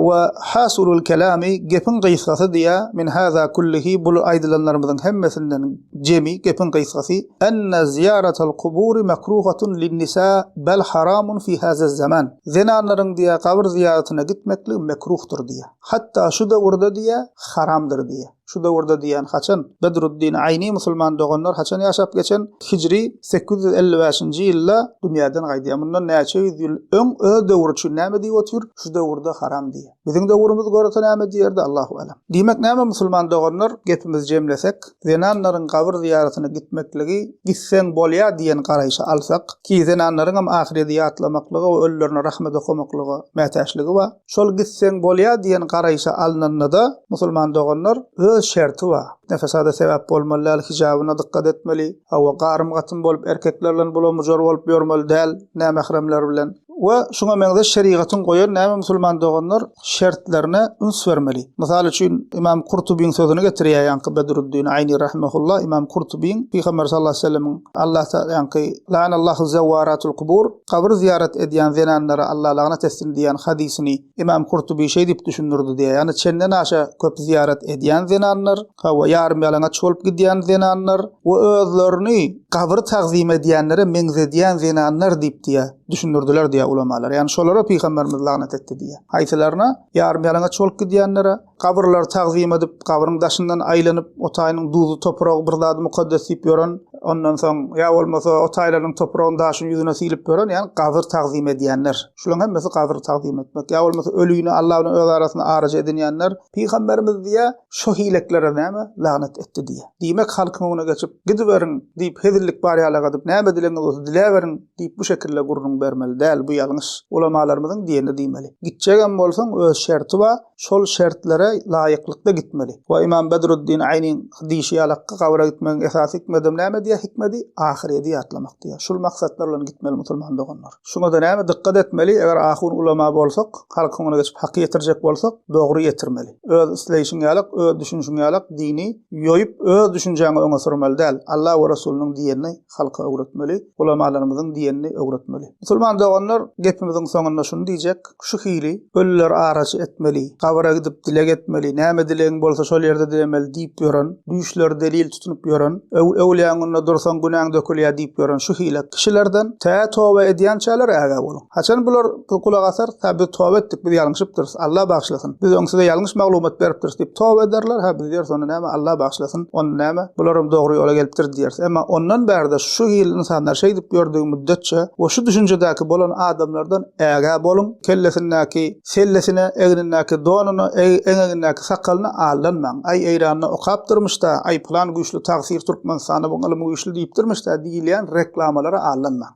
We hasulul kelami, gepiň gysgasy diýýär, min haza kullihi, bul aýdylanlarymyzyň hemmesinden jemi, gepiň gysgasy, enne zyýaratal kuburi mekruhatun linnisa bel haramun fi hazaz zaman, zenanlaryň diýýär gabyr zyýaratyna gitmekligi mekruhdyr diýýär. Hatda şu döwürde diýýär, haramdyr diýýär. Şu döwürde diýýän haçan? Bedruddin Aýni musulman doganlar haçan ýaşap geçen? Hijri sekiz ýüz elli bäşinji ýylda dünýäden gaýdýar. Mundan näçe ýüz ýyl öň öz döwri üçin näme diýip otyr? Şu döwürde haram diýýär. Biziň döwrümiz görese näme diýerdi? Allahu alem. Diýmek näme musulman doganlar, gepimizi jemlesek, zenanlaryň gabyr zyýaratyna gitmekligi gitseň bolýar diýen garaýşy alsak, ki zenanlaryňam ahyredi ýatlamaklyga we ölülerine rahmet okamaklyga mätäçligi bar. Şol gitseň bolýar diýen garaýşa alnanda-da, musulman doganlar, öz şerti bar. Nefesada sebäp bolmaly däl, hijabyna dykgat etmeli, hawa, garym-gatym bolup, erkekler bilen bulam-bujar bolup ýörmeli däl, nämähremler bilen we şuňa meňzeş şerigatyň goýan näme musulman doganlar şertlerine üns bermeli. Mysal üçin, Ymam Kurtubyň sözüni getirýär ýaňky Bedruddin Aýni rahimehullah, Ymam Kurtubyň Pygamber sallallahu aleyhi we sellemiň Alla ta, ýaňky, La'anallahu zewwaratul kubur, Kabyr zyýarat edýän zenanlara Alla lagnat etsin diýýän hadysyny Ymam Kurtuby şeý diýip düşündirdi diýýär, ýagny çenden aşa köp zyýarat edýän zenanlar, hawa, ýarym ýalaňaç bolup gidýän zenanlar we özlerini kabyry tagzym edýänlere meňzedýän zenanlar diýip diýýär, düşündirdiler diýýär ulamalar. Ýagny şolara Pygamberimiz lagnat etdi diýýär. Haýsylaryna? Ýarym ýalaňaç bolup gidýänlere, Gabyrlary tagzym edip, gabryň daşyndan aýlanyp, o taýynyň duzly topragy bir zady mukaddes diýip ýören, ondan soň, ýa bolmasa, o taýlarynyň topragyny daşyň ýüzüne silip ýören, ýagny gabyr tagzym edýänler. Şularyň hemmesi gabyr tagzym etmek. Ýa bolmasa, ölini Alla bilen öz arasynda araja edinýänler. Pygamberimiz diýýär, Şo hileklere näme, lanet etdi diýýär. Diýmek, halkyň öňüne geçip, Gidiberiň! diýip, hezillik bar ýaly gadyp, näme dilegiňiz bolsa diläberiň! diýip, bu şekilde gürrüň bermeli däl, bu ýalňyş. Ulamalarymyzyň diýenini diýmeli. Gitjegem bolsaň, öz şerti bar, şol şertlere laýyklykda gitmeli. We Ymam Bedruddin Aýnyň diýşi ýaly Hakka gabra gitmegiň esasy hikmedem näme diýýär? Hikmedi ahyredi ýatlamak diýýär. Şul maksatlar bilen gitmeli musulman doganlar. Şuňada näme dykgat etmeli? Eger ahun ulama bolsak, halk öňüne geçip haky ýetirjek bolsak, dogry ýetirmeli. Öz isleýşiň ýaly, öz düşünişiň ýaly dini ýoýup öz düşünjäňi öňe sürmeli däl. Alla we Resulynyň diýenini halka öwretmeli, ulamalarymyzyň diýenini öwretmeli. Musulman doganlar, gepimiziň soňunda şuny diýjek, şu hili, Ölüler araçy etmeli, gabyra gidip dileg etmeli, näme dilegiň bolsa şol ýerde dilemeli diýip ýören, düýşleri delil tutunyp ýören, öwlüýäň öňünde dursaň günäň dökülýär diýip ýören şu hili kişilerden tä toba edýänçäler ägä boluň. Haçan bular gulak asar, hä biz toba etdik, biz ýalňyşypdyrys, Alla bagyşlasyn. Biz öň size ýalňyş maglumat beripdiris diýip toba ederler, hä biz diýeris onda näme, Alla bagyşlasyn, onda näme, bularam dogry ýola gelipdir diýeris. Emma ondan bärde şu hili ynsanlar şeýdip ýördügi müddetçe we şu düşünjedäki bolan adamlardan ägä boluň, kellesindäki sellesine, egnindäki donuna, eňegindäki sakalyna aldanmaň. Aý Eýranda okapdyrmyş-da, aý pylan güýçli tagsyr Türkmenistanda bu ylym güýçli diýipdirmiş-dä diýilýän reklamalara aldanmaň.